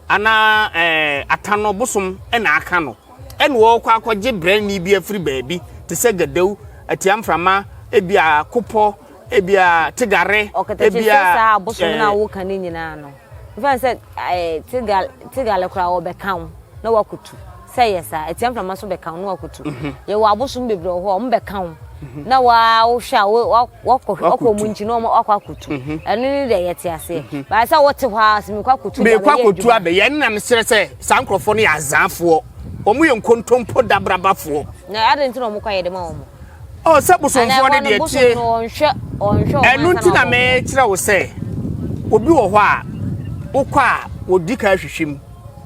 anaa eh, atano bosom na aka no ɛna wɔkɔ akɔgye brɛni bi afiri baabi te sɛ gadawu atiamframa ebi a kopɔ Ebia Tigare. Ɔkatakyɛ sɛ saa abosom no a woka no nyinaa no, mfa no sɛ Tigare Tigare koraa wɔbɛka wo na woakotu. Sɛ yɛ saa, atia mframa nso bɛka wo na woakotu. Mhm. Yɛwɔ abosom bebree wɔ hɔ a wɔbɛka wo mhm. na wohwɛ a wɔkɔ wɔn nkyi na wɔakɔ akotu. Mhm. Ɛno ne deɛ yɛte aseɛ. Baa sɛ wote hɔ a sɛ mekɔ akotu da mekɔ akotu abɛyɛ ɛno na meserɛ sɛ saa nkurɔfoɔ no yɛ azaafoɔ. Wɔn yɛ nkontompo dabrabafoɔ. Na adɛn nti na wɔkɔ ayɛ de ma wɔn? Oh, sɛ bosomfoɔ no deɛ tie. Ɛno nti na mekyerɛ wo sɛ obi wɔ hɔ a wokɔ a wɔdi ka ahwehwɛ mu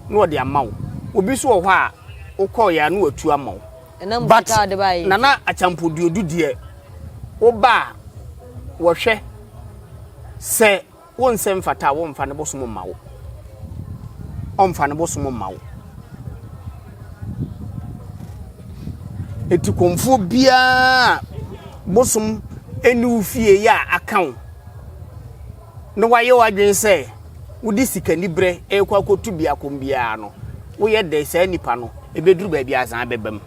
na wɔde ama wo. Obi nso wɔ hɔ a wokɔeɛ a na watu ama wo. But nana akyampoduodu deɛ woba a wɔhwɛ sɛ Wo nsɛ mfata a wo nfa ne bosom mma wo ɔnfa ne bosom mma wo etikomfuo biara bosom ɛni wo fie yɛ a aka wo na wayɛ wadwene sɛ wode sikaniberɛ ɛrekɔ akɔtu biako biara no woyɛ dɛ saa nipa no ɛbɛduru baabi azan bɛbam.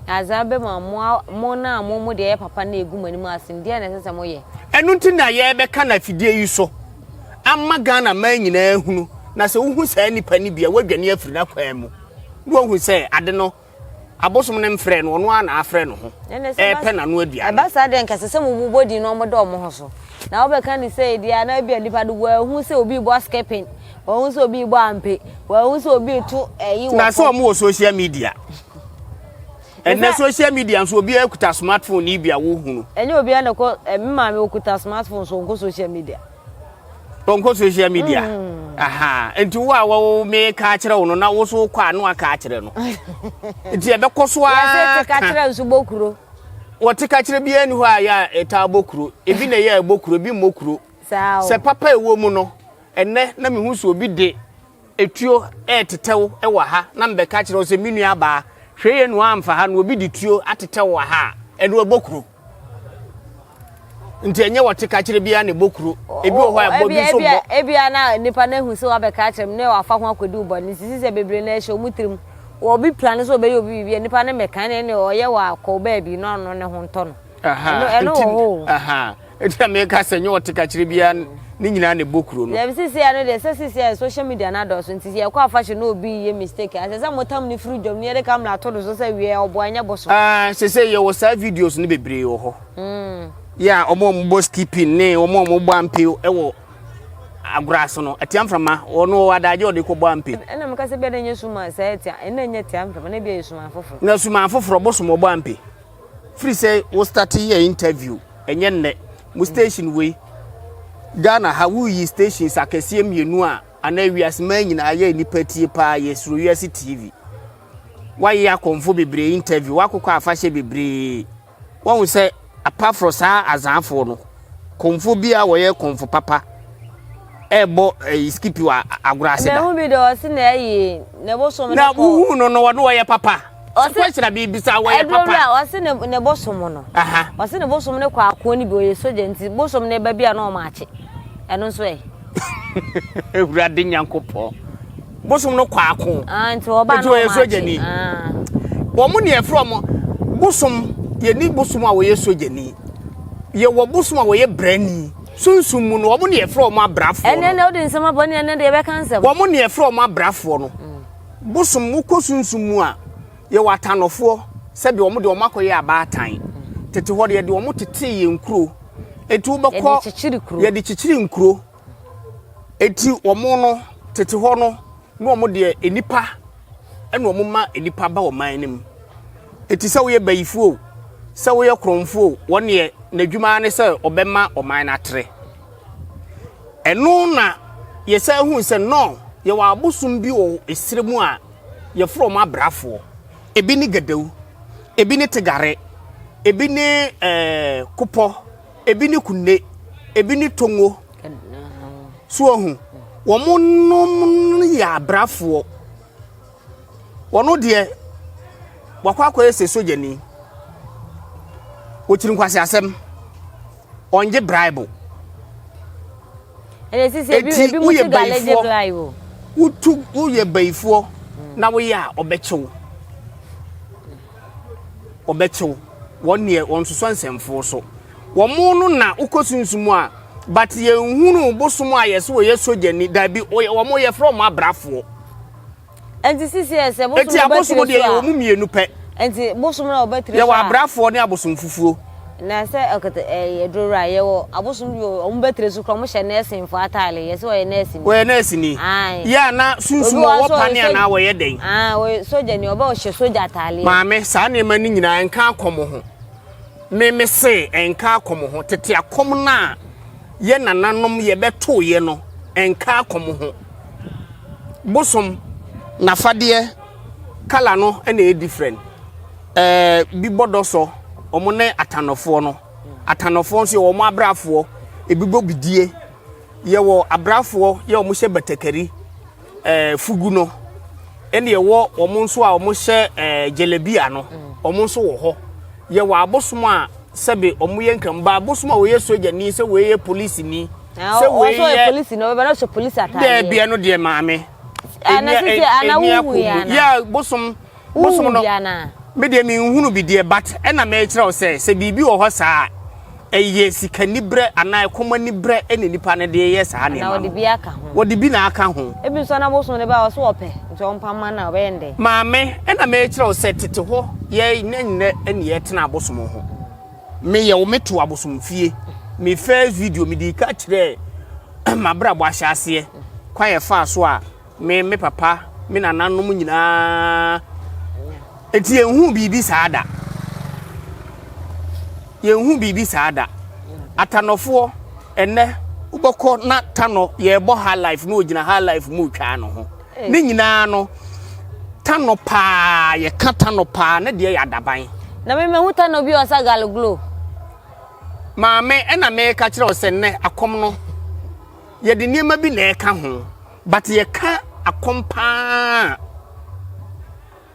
Na adze a ɔbɛma mo a mo na mo mode ayɛ papa no egu mo anim asen, deɛn na ɛsɛ sɛ moyɛ? Ɛno nti na yɛrebɛka no afidie yi so ama Ghana man nyinaa ahunu, na sɛ wohu saa nipa no bi a, wɔadwane afiri n'akwan mu, na wɔahu sɛ ade no abosom no mfrɛɛ no, ɔno ara na afrɛ ne ho, ɛrepɛ n'ano aduane. Ɛba saa deɛ nka ɛsɛ sɛ wɔbobɔ din na wɔda wɔn ho so. Na wobɛka no sɛ deɛ anaa ebia nipa no wɔahu sɛ obi rebɔ skipping, Wɔn sɛ obi bɔ ampe. Wɔn sɛ obi to ɛyi wɔ. Na sɛ wɔn wɔ social media. Ɛnna social media nso obi akuta smartphone ni bi a wohunu. Ɛnyɛ obi a na kɔ ɛmi maame okuta smartphone so nkɔ social media. Nkɔ social media. Mm. Aha nti wo a wo me ka akyerɛ wo no na wo so kɔ ano aka akyerɛ no. Nti ɛbɛkɔ so a. Yɛsɛ te ka kyerɛ nso bɔ kuro. Wɔte ka kyerɛ biara ni hɔ a yɛ a ɛtaa bɔ kuro. Ebi na ɛyɛ ɛbɔ kuro ebi mmɔ kuro. Sɛ papa ɛwɔ mu no. Ɛnnɛ na mehu sɛ obi de etuo retetɛ wo wɔ ha na mebɛka akyerɛ wo sɛ me nua baa, hwɛ yie na woamfa ha na obi de tuo atetɛ wo wɔ ha a, ɛno ɛbɔ kuro. Nti ɛnyɛ wɔte ka kyerɛ biara na ɛbɔ kuro. Ebi wɔ hɔ a ɛbɔ bi nso mmɔ. Ebia na nipa no ahu sɛ wabɛka akyerɛ me na wafa ho akɔdi wo bɔne nti si sɛ bebree na ɛhyɛ wɔn tirim. Obi plan sɛ ɔbɛyɛ obi biribi a nipa no mmɛka na ɛne ɔyɛ wɔ akɔ baabi na ɔno ne ho ntɔ no. ɛno wɔ hɔ o. ɛti na meka sɛ nyɛ ɔtekakyerɛ biara ne nyinaa na ɛbɔ kuro no. dɛbi sisi ano deɛ sɛ sisi ayɛ social media na adɔɔso nti sɛ yɛkɔ afahyɛ na obi yɛ mistake a ɛsɛ sɛ motam ne firi dwam ne yɛde kamera ato do so sɛ wiɛ ɔbo anyɛ bo so. Ah, sɛ sɛ yɛwɔ saa videos no bebree wɔ hɔ. Mm. Yeah, ɔmo a ɔmo bɔ skipping ne ɔmo a ɔmo bɔ ampe ɛwɔ agorɔ ase no ɛtia mframa ɔno wɔ adagye ɔde kɔ bɔ ampe. ɛna mo kasa bi a na nyɛ suma sɛ ɛtia ɛna nyɛ tia mframa na bi a yɛ suma foforɔ. na suma foforɔ bɔ soma ɔbɔ ampe. firi sɛ wo starte yɛ interview ɛnyɛ nnɛ mo station wei Ghana ha woyi stations akɛseɛ mmienu a anaa wiase maa nyinaa yɛ nnipa tie paa yɛ suro wiase TV wayɛ akɔmfo bebree interview wakokɔ afahyɛ bebree wɔn sɛ apaforo saa azanfoɔ no kɔmfo bi a wɔyɛ kɔmfo papa ɛbɔ ɛyi eh, skipi wɔ agorɔ ase da. ɛna ɛho bi de ɔsi na ɛyɛ na ɛbosom no kɔ na wohu no no wɔn wɔyɛ papa. Ɔse question a mebisa wɔyɛ papa. Ɛdurɔ a ɔse ne ne bosom no. Aha. Ɔse ne bosom no kɔ akoɔ no bi ɔyɛ sogya nti bosom no ba bi a na ɔmo akye. Ɛno nso ɛ. Ewurade Nyankopɔn. Bosom no kɔ ako. Ah nti ɔba no ɔmo akye. Ah. Wɔn ne ɛfrɛ ɔmo bosom yɛ ni bosom a wɔyɛ sogya ni. Yɛ wɔ bosom a wɔyɛ brani. Sunsum mu no wɔn ne ɛfrɛ ɔmo abrafoɔ no. Ɛnɛ na ɔde nsɛm abɔ ne ɛnɛ de ɛbɛka nsɛm. Wɔn ne ɛfrɛ ɔmo abrafoɔ no. bosom wokɔ sunsum mu a yɛwɔ atanɔfoɔ sɛdeɛ wɔn deɛ wɔn akɔyɛ abaatan tete hɔ deɛ deɛ wɔn tetee yɛn nkuro eti wobɛkɔ yɛde kyekyere nkuro eti wɔn no tete hɔ no na wɔn deɛ nipa ɛna wɔn ma nipa ba wɔn man no mu eti sɛ woyɛ bayifoɔ sɛ woyɛ korɔnfoɔ wɔn deɛ n'adwuma ne sɛ ɔbɛma ɔman no atere. Ɛno na yɛsan hui sɛ Nor yɛwɔ abosom bi wɔ ɛserɛ mu a yɛfrɛ wɔn abrafoɔ. Ɛbi ne Gadau, ɛbi ne Tegare, ɛbi ne ɛɛ Kopɔ, ɛbi ne Kunde, ɛbi ne Tongo. So wahu? Wɔnom yɛ abrafoɔ. Ɔno deɛ wakɔ akɔyɛ sɛ sogyani. Ɔkyiri nkwaseasɛm. Ɔngye braibo. Ɛna sisi ebi Eti ebi mu woyɛ siga legye bayifoɔ. bly o. Wotu woyɛ bayifoɔ na woyɛ a ɔbɛkyew. Ɔbɛkyew. Wɔn deɛ wɔnsosɔ nsɛmfoɔ so. Wɔn no na wokɔ sunsum mu a but yɛnhunu bosom a yɛse wɔyɛ sogyani. Daabi wɔn yɛfrɛ wɔn abrafoɔ. Enti sisi ɛsɛ bosom Enti abosom deɛ yɛwɔ mu mmienu pɛ. Enti bosom na wɔbɛtire so a. Yɛwɔ abrafoɔ ne abosom fufuo. Na sɛ ɛkete ɛyɛ eh, duro a yɛwɔ abosom bi wɔn bɛtire so kora wɔn hyɛ nɛɛsinfoɔ ataale yɛ sɛ wɔyɛ nɛɛsini. Wɔyɛ nɛɛsini. Ayi. Yɛ ana sunsum wɔwɔ pane anaa wɔyɛ dɛn. Aa wɔyɛ sogya ni ɔbɛ ɔhyɛ sogya ataale. Maame saa nneɛma ne nyinaa nka akɔm ho me me se nka akɔm ho tete akɔm no a yɛ nananom yɛbɛto yɛ no nka akɔm ho. bosom nafadeɛ colour no na ɛyɛ different ɛɛ bi bɔ dɔsɔ wɔn ne atanɔfoɔ no atanɔfoɔ nso yɛ wɔn abrafoɔ ebi bɔ bidie yɛ wɔ abrafoɔ yɛ wɔn hyɛ batakari ɛɛ fugu no ɛna ɛwɔ wɔn nso a wɔn hyɛ ɛɛ gyelebia no wɔn nso wɔ hɔ yɛ wɔ abosom a sɛbi wɔn yɛ nkanba abosom a wɔyɛ sogyani sɛ wɔyɛ polisini. sɛ wei yɛ polisi na ɔbɛbɛ na ɔhyɛ polisi ataadeɛ dɛbi ɛno deɛ maame ɛna sisi ana wuhu ya na ya bosom bosom no me deɛ me nhunu bi deɛ but ɛna mɛ kyerɛw sɛ sɛ biribi wɔ hɔ saa ɛyɛ sika nibrɛ anaa ɛkɔma nibrɛ ɛna nipa no deɛ yɛ saa nneɛma no wɔde bi na aka ho ebi nso na bosom no bɛ ɔso ɔpɛ nti ɔmpa ma na ɔbɛyɛ ndɛ maame ɛna mɛ kyerɛw sɛ tete hɔ yɛ nyɛ nyɛ ɛna yɛ tena bosom ho. Me yɛ wo me to abosom fie me first video me di ka kyerɛ ma bra bɔ ahyɛ aseɛ kwan yɛ faa so a me me papa me nana nom nyinaa eti yɛn hu biribi saa da yɛn hu biribi saa da atanɔfoɔ ɛnɛ wobɛkɔ na tanɔ yɛ bɔ high life na ogyina high life mu twaa no ho. Ne nyinaa no, tano paa, yɛka tano paa, ne deɛ yɛ adaban. Na me mahu tano bi a ɔsa galoglo. Maame, ɛna meka kyerɛ wo sɛ nnɛ akɔm no, yɛde nneɛma bi na ɛka ho, but yɛka akɔm paa.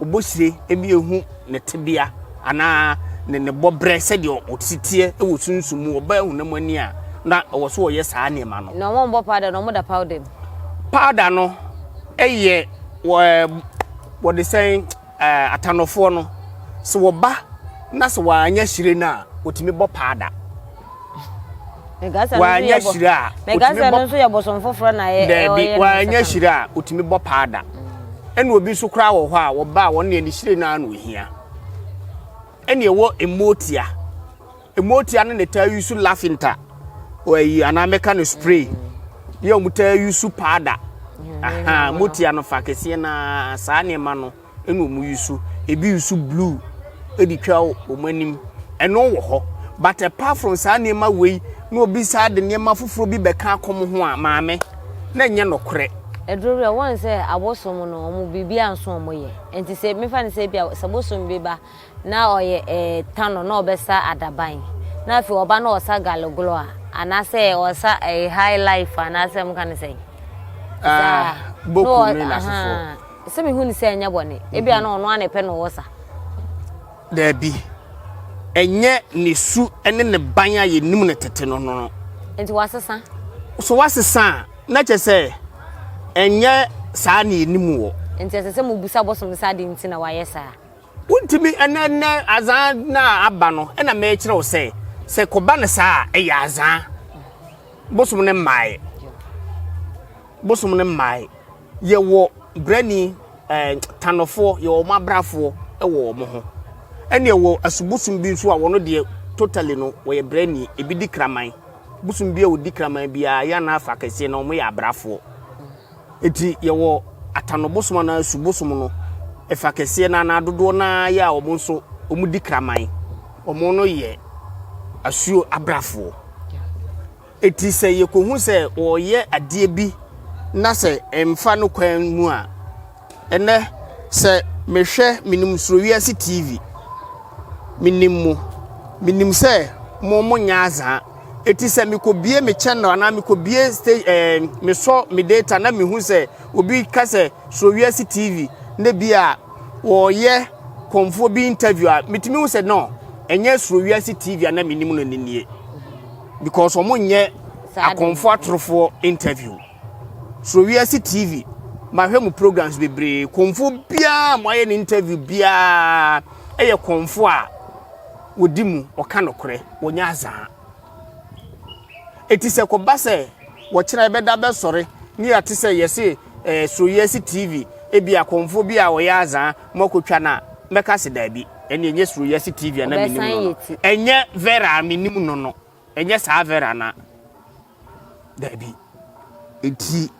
Obohyire ani ehu ne tsebea anaa ne ne bɔberɛ sɛdeɛ ɔtse teɛ wɔ sunsum mu, ɔbaa honam ani a, na ɔwɔ so ɔyɛ saa nneɛma no. Na wɔbɔ powder no, wɔda powder mu. Powder no yɛ wɔ ɛɛ wɔde sɛn ɛɛ atanɔfoɔ no, sɛ wɔba na sɛ wɔannya hyire no a, wɔtumi bɔ powder. wanyɛ hyire a daabi wanyɛ hyire a otumi bɔ paa da ɛna obi nso koraa wɔ hɔ a wɔba a wɔn deɛ ne hyire naa na ohia ɛna ɛwɔ mmootia mmootia no na taa yi so lafinta wɔayi anaa mɛka no spray yɛ wɔn taa yi so paada mmootia no fa kɛseɛ na saa nneɛma no. Ɛna ɔmo yusu ebi yusu blue ɛde twa ɔmo anim ɛno wɔ hɔ but apart from saa nneɛma wei na obi saa de nneɛma foforɔ bi bɛka akɔ mo ho a maame na ɛnyɛ nɔkorɛ. Ɛduru bi a wɔn sɛ abosom no ɔmo biribiara nso ɔmo yɛ nti sɛ mefa no sɛ ebi a sɛ bosom bi ba na ɔyɛ ɛɛ tano na ɔbɛsa adaban na afei ɔba na ɔsa galegolo a anaasɛ ɔsa ɛɛ high life anaasɛ mo ka no sɛn. Ɛɛ boko no yɛ n'asefoɔ Sɛ mihu no sɛ ɛnyɛ bɔne. Ebia na ɔno ara na ɛpɛ na ɔwɔ sa. Dabi. Ɛnyɛ ne su ne ne ban a yenim no tete no no. Enti wasesa? So wasesa a, na kyerɛ sɛ ɛnyɛ saa na yenim wɔ. Enti ɛsɛ sɛ mubisa bosom no sɛ adɛn nti na wayɛ saa. Wontumi, ɛnɛ ɛnɛ adza na aba no, ɛna merekyerɛ wo sɛ, sɛ kɔba no saa a, ɛyɛ adza. Bosom no mmae. Bosom no mmae. Yɛwɔ brɛni, ɛɛ tanofoɔ, yɛwɔ wɔn abrafoɔ wɔ wɔn ho. Ɛna yɛwɔ asubosum bi nso a wɔn deɛ totally no wɔyɛ brɛni, ebi di kraman. Bosom bi a wɔdi kraman biara yɛn anaa afa kɛseɛ no wɔyɛ abrafoɔ. Eti yɛwɔ atanobosom anaa asubosum no, ɛfa kɛseɛ no anaa dodoɔ no ara yɛ a wɔn nso wɔdi kraman. Wɔn no yɛ asuo abrafoɔ. Enti sɛ yekohu sɛ wɔreyɛ adeɛ bi na sɛ ɛmfa no kwan mu a, ɛnnɛ sɛ mehwɛ, menim Surowiase TV, menim mo, menim sɛ mo monyɛ azaa. Enti sɛ mekɔbie me channel anaa mekɔbie sta ɛɛ mesɔ me data na mehu sɛ obi ka sɛ Surowiase TV na bi a wɔreyɛ kɔmfoɔ bi interview a, metumi hu sɛ no, ɛnyɛ Surowiase TV a na menim no ne nie. because wɔn nyɛ akɔnfo atorofoɔ interview so wiase tv mahwɛ mu programs bebree kɔnfo biara mo ayɛ ne interview biara ɛyɛ kɔnfo a wɔdi mu ɔka nokorɛ wɔnyɛ azaa eti sɛ kɔba sɛ wɔkyerɛ ɛbɛda bɛsɔre ne yɛate sɛ yɛse eh, suro yɛ si TV, ebi akɔmfo bi a ɔyɛ azaa, mo akotwa na mɛka se daabi, ɛne ɛnyɛ suro yɛ si TV a na menim no no, ɛnyɛ Vera a menim no no, ɛnyɛ saa Vera na daabi. Enti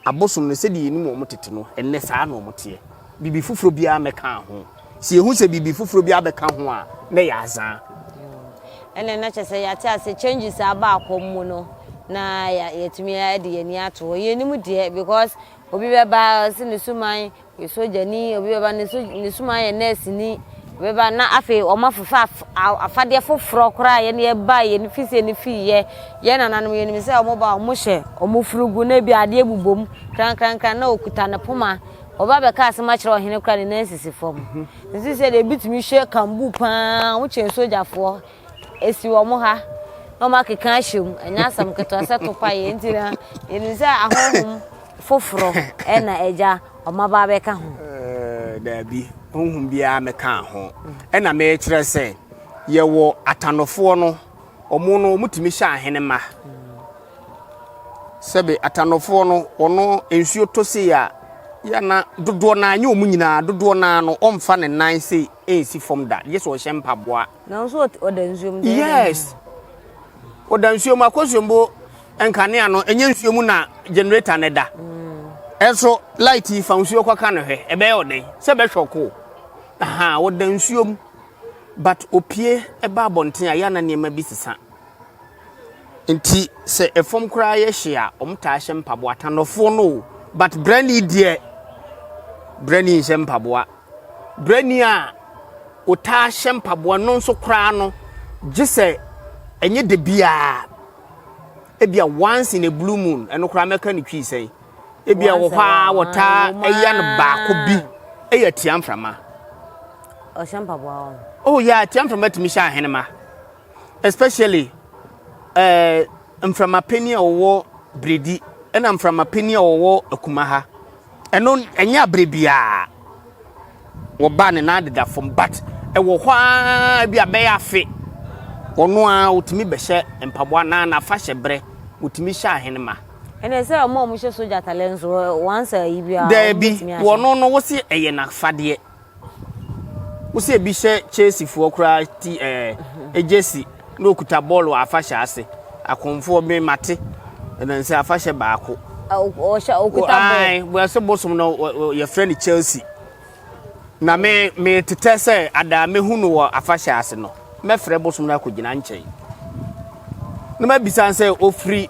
abosom no sɛdeɛ yɛnim wɔn tete no, ɛnnɛ saa na wɔn teɛ. biribi foforɔ biara mmɛka ho sɛ yɛhu sɛ biribi foforɔ biara bɛka ho a na yɛ azaa mm. ɛnɛ na kyɛ sɛ yɛate ase changes a aba akɔ mu no na yɛtumi de yɛn ani ato hɔ yɛnim deɛ because obi bɛba ɔsi ne suman yɛ sogyani obi bɛba ne suman yɛ nɛɛsini bɛba na afei wɔn afofa afadeɛ foforɔ koraa yɛn yɛ ba yɛn fi sɛ ne fi yɛ yɛn nananom yɛn nim sɛ wɔn ba wɔn hyɛ wɔn furugu na ebi adeɛ bubom krankrankran na okuta ne poma Wɔba abɛka asɛm akyerɛ ɔhene kora ne nan sisi fam. Nsi sɛ deɛ ebi tumi hyɛ kambu paa, wɔn kyɛn sogyafoɔ. Esi wɔn ha na wɔn akeka ahyɛ mu. Ɛnyɛ asɛm ketewa sɛ topa yɛ nti na yɛnim sɛ ahonhom foforɔ ɛna agya wɔn aba abɛka ho. Eh, daabi, honhom biara mɛka ho. Ɛna mekyerɛ sɛ yɛwɔ atanofoɔ no, wɔn no wɔtumi hyɛ ahene ma. Sɛbe Atanɔfoɔ no, wɔn nsuo tɔ sei a, yɛ na dodoɔ no ara, nyɛ wɔn nyinaa, dodoɔ no ara no, wɔmfa ne nan sei nsi fam da, gye sɛ ɔhyɛ mpaboa. Nanso ɔda nsuo mu. Yes. Ɔda nsuo mu, akɔsuo mbo nkanea no, ɛnyɛ nsuo mu na generator no da. Ɛnso mm. light yi fa nsuo kɔka no hwɛ, ɛbɛyɛ ɔdɛn? Sɛ bɛhwɛ ɔko. Aha, ɔda nsuo mu. But opie ɛba abɔnten a, yɛ na nneɛma bi sesa. Nti sɛ ɛfam koraa yɛ hye a wɔn taa hyɛ mpaboa tanɔfoɔ no o but brɛni deɛ brɛni nhyɛ mpaboa brɛni a ɔtaa hyɛ mpaboa no nso koraa no gye sɛ ɛnyɛ de biara ebia once in a blue moon ɛno koraa mɛka ne twii sɛn ebia wɔ hɔ a wɔtaa ɛyɛ no baako bi ɛyɛ tia mframa ɔhyɛ mpaboa wɔn oh yɛ yeah, tia mframa tumi hyɛ ahenema especially eh, mframa panyin a wɔwɔ Bredi ɛna mframa panyin a wɔwɔ Akuma ha ɛno ɛnyɛ abere biara wɔba ne nan deda fam but ɛwɔ hɔ ara bi abɛyɛ afe ɔno a wotumi bɛhyɛ mpaboa na na afa hyɛ brɛ wotumi hyɛ ahenema. ɛnna sɛ ɔmo a ɔmo hyɛ soja atalɛ nso wɔn ansa yi biara. dɛbi wɔn no wɔsi ɛyɛ n'afadeɛ. Wo sɛ bi hyɛ Chelsea foɔ koraa ti ɛɛ gyesi na okuta bɔɔl wɔ afahyɛ ase akɔnfoɔ me mate ɛnansɛ afahyɛ baako. Ɔhyɛ okuta bɔɔl. Ayi bɔsɛ bosom no yɛfrɛ no Chelsea. Na me me tetɛ sɛ adaa mehu no wɔ afahyɛ ase no mɛfrɛ bosom no akɔgyina nkyɛn. Na mabisa sɛ ofiri.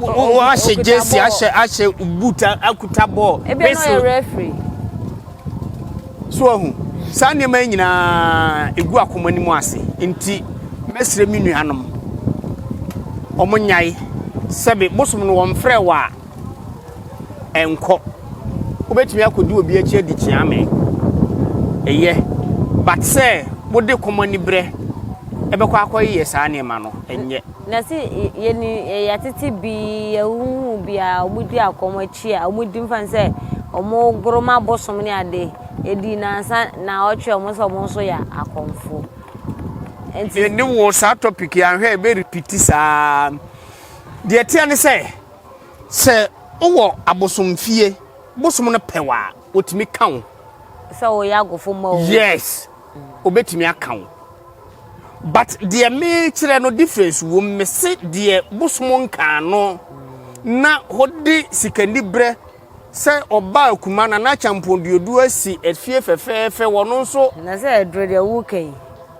wɔahyɛ jersey ahyɛ ahyɛ boot akuta bɔɔl whistle so ahu saa nneɛma yi nyinaa egu akoma no mu ase nti mɛsrɛ me nuanom wɔn nyae sɛbi bosom no wɔn frɛ wɔ a ɛnkɔ wobɛtumi akɔdi obi akyi adi kyea me ɛyɛ but sɛ wode kɔmɔ ani berɛ ɛbɛkɔ akɔyɛ saa nneɛma no ɛnyɛ Na se yɛni yɛtete bi yɛhuhu bi a ɔmo di akɔm akyi a ɔmo di mfa no sɛ ɔmo goro ma bosom ne ade edi nansa naɔtwe ɔmo sɛ ɔmo nso yɛ akɔmfo nti. Me ne wo saa topic yi anhwɛ yɛbɛ repeat saa deɛ ɛteɛ ne sɛ sɛ wowɔ abosomfie bosom no pɛ wo a ɔtumi ka wo sɛ woyɛ agofo ma o yes. obetumi aka wo but deɛ mekyerɛ no difference wom mese deɛ bosom nkaa no na hode sikani berɛ sɛ ɔba akuma na na kyampɔn duoduo asi afie fɛfɛɛfɛ wɔno nso na sɛ ɛdoro deɛ woka yi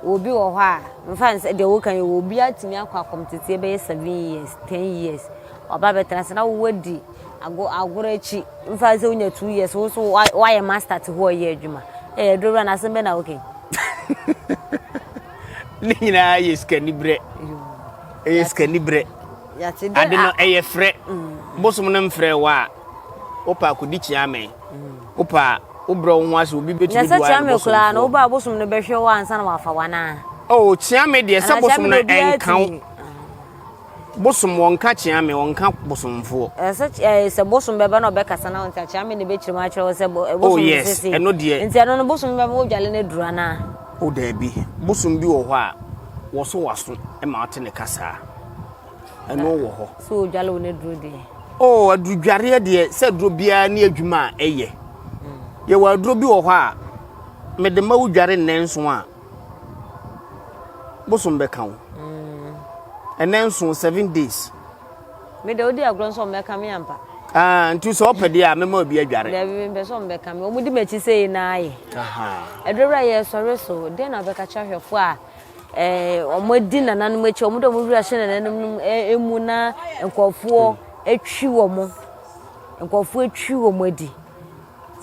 obi wɔ hɔ a mfa no sɛ deɛ woka yi obi atumi akɔ akɔm tete bɛyɛ seven years ten years ɔba bɛtena sɛ na wowadi Agor agor akyi, mfa sɛ wonya two years, wo nso woayɛ master te hɔ a ɛyɛ adwuma. Ɛyɛ adurowura no asɛm bɛ na woka yi. Ne nyinaa yɛ sikani berɛ. Ɛyɛ sikani berɛ. Ade no ɛyɛ frɛ. Mm. Bosom no mfrɛ wo a, wopɛ akɔdi kyeame. Mm. Wopɛ a, wobrɛ wo ho ase obi bɛtumi boa no bosom. Nyɛ sɛ kyeame koraa no, wobaa bosom no bɛhwɛ wo ansa na wafa wo anaa? Oh, kyeame deɛ sɛ bosom no ɛnka wo. Bosom wɔ nka kyea me, ɔnka bosomfoɔ. Ɛsɛ ɛɛ sɛ bosom bɛba na ɔbɛkasa na ɔnka kyea me na ɛbɛkyerɛ mu akyerɛ wo sɛ eh, bosom oh, yes. sese. Ɛno deɛ. Nti ɛno no bosom bɛma wodwale no aduru anaa? O oh, daabi. Bosom bi wɔ hɔ a wɔso waso ma ɔte ne kasaa. Ɛno wɔ hɔ. Sɛ ɔdwale wo no aduru deɛ. O oh, adurudwareɛ deɛ sɛ aduro biara ne adwuma a ɛyɛ. Hmm. Yɛwɔ aduro bi wɔ hɔ a mede ma wodware nnanson a bosom bɛka wo ɛnɛ nso seven days. mi de o di agorɔ nso ɔmo bɛka mi ampa. Ah, nti sɛ ɔpɛ deɛ a mɛma obi adware. Dabi mi mpɛ sɛ ɔmo bɛka mi ɔmo di m'akyi sɛ yi naa yɛ. Ɛdɔ wura yɛ sɔre so den na ɔbɛka kyerɛ ahwɛfo a ɛɛ ɔmo adi nananom akyi ɔmo de ɔmo wura hyɛ nananom nom emu na nkɔfoɔ atwi wɔn nkɔfoɔ atwi wɔn adi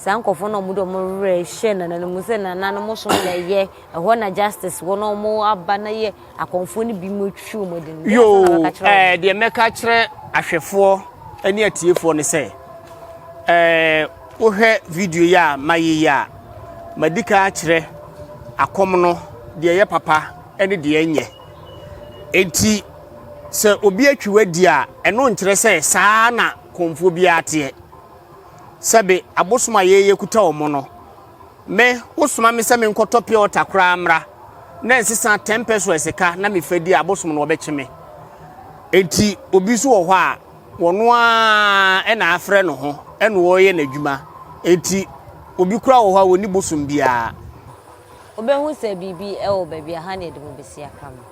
Saa nkorɔfoɔ no a wɔn de wɔn werɛ hyɛ nananom sɛ nananom som na ɛyɛ ɛhɔ na justice wɔ na wɔn aba na yɛ akɔnfoɔ no bi mu atwitwi wɔn adi no. Yoo ɛɛ deɛ mɛka kyerɛ ahwɛfoɔ ɛne atiefoɔ no sɛ ɛɛ wohwɛ video yi a mayi yi a madi kan akyerɛ akɔm no deɛ ɛyɛ papa ɛne deɛ ɛnyɛ eti sɛ obi atwi wadi a ɛno nkyerɛ sɛ saa na kɔnfoɔ biara teɛ. Sɛbe abosom a yɛyɛ kuta wɔn no. Me, wosoma me sɛ menkɔtɔ pure water koraa mmra na nsesa ten pesewas ka na mefa di a, abosom no wɔbɛkye me. Enti obi nso wɔ hɔ a, wɔno ara na afrɛ ne ho na ɔreyɛ n'adwuma. Enti obi koraa wɔ hɔ a, ɔnni bosom biara. Wobɛhu sɛ biribi wɔ baabi a ha na yɛde mu bɛsi aka no.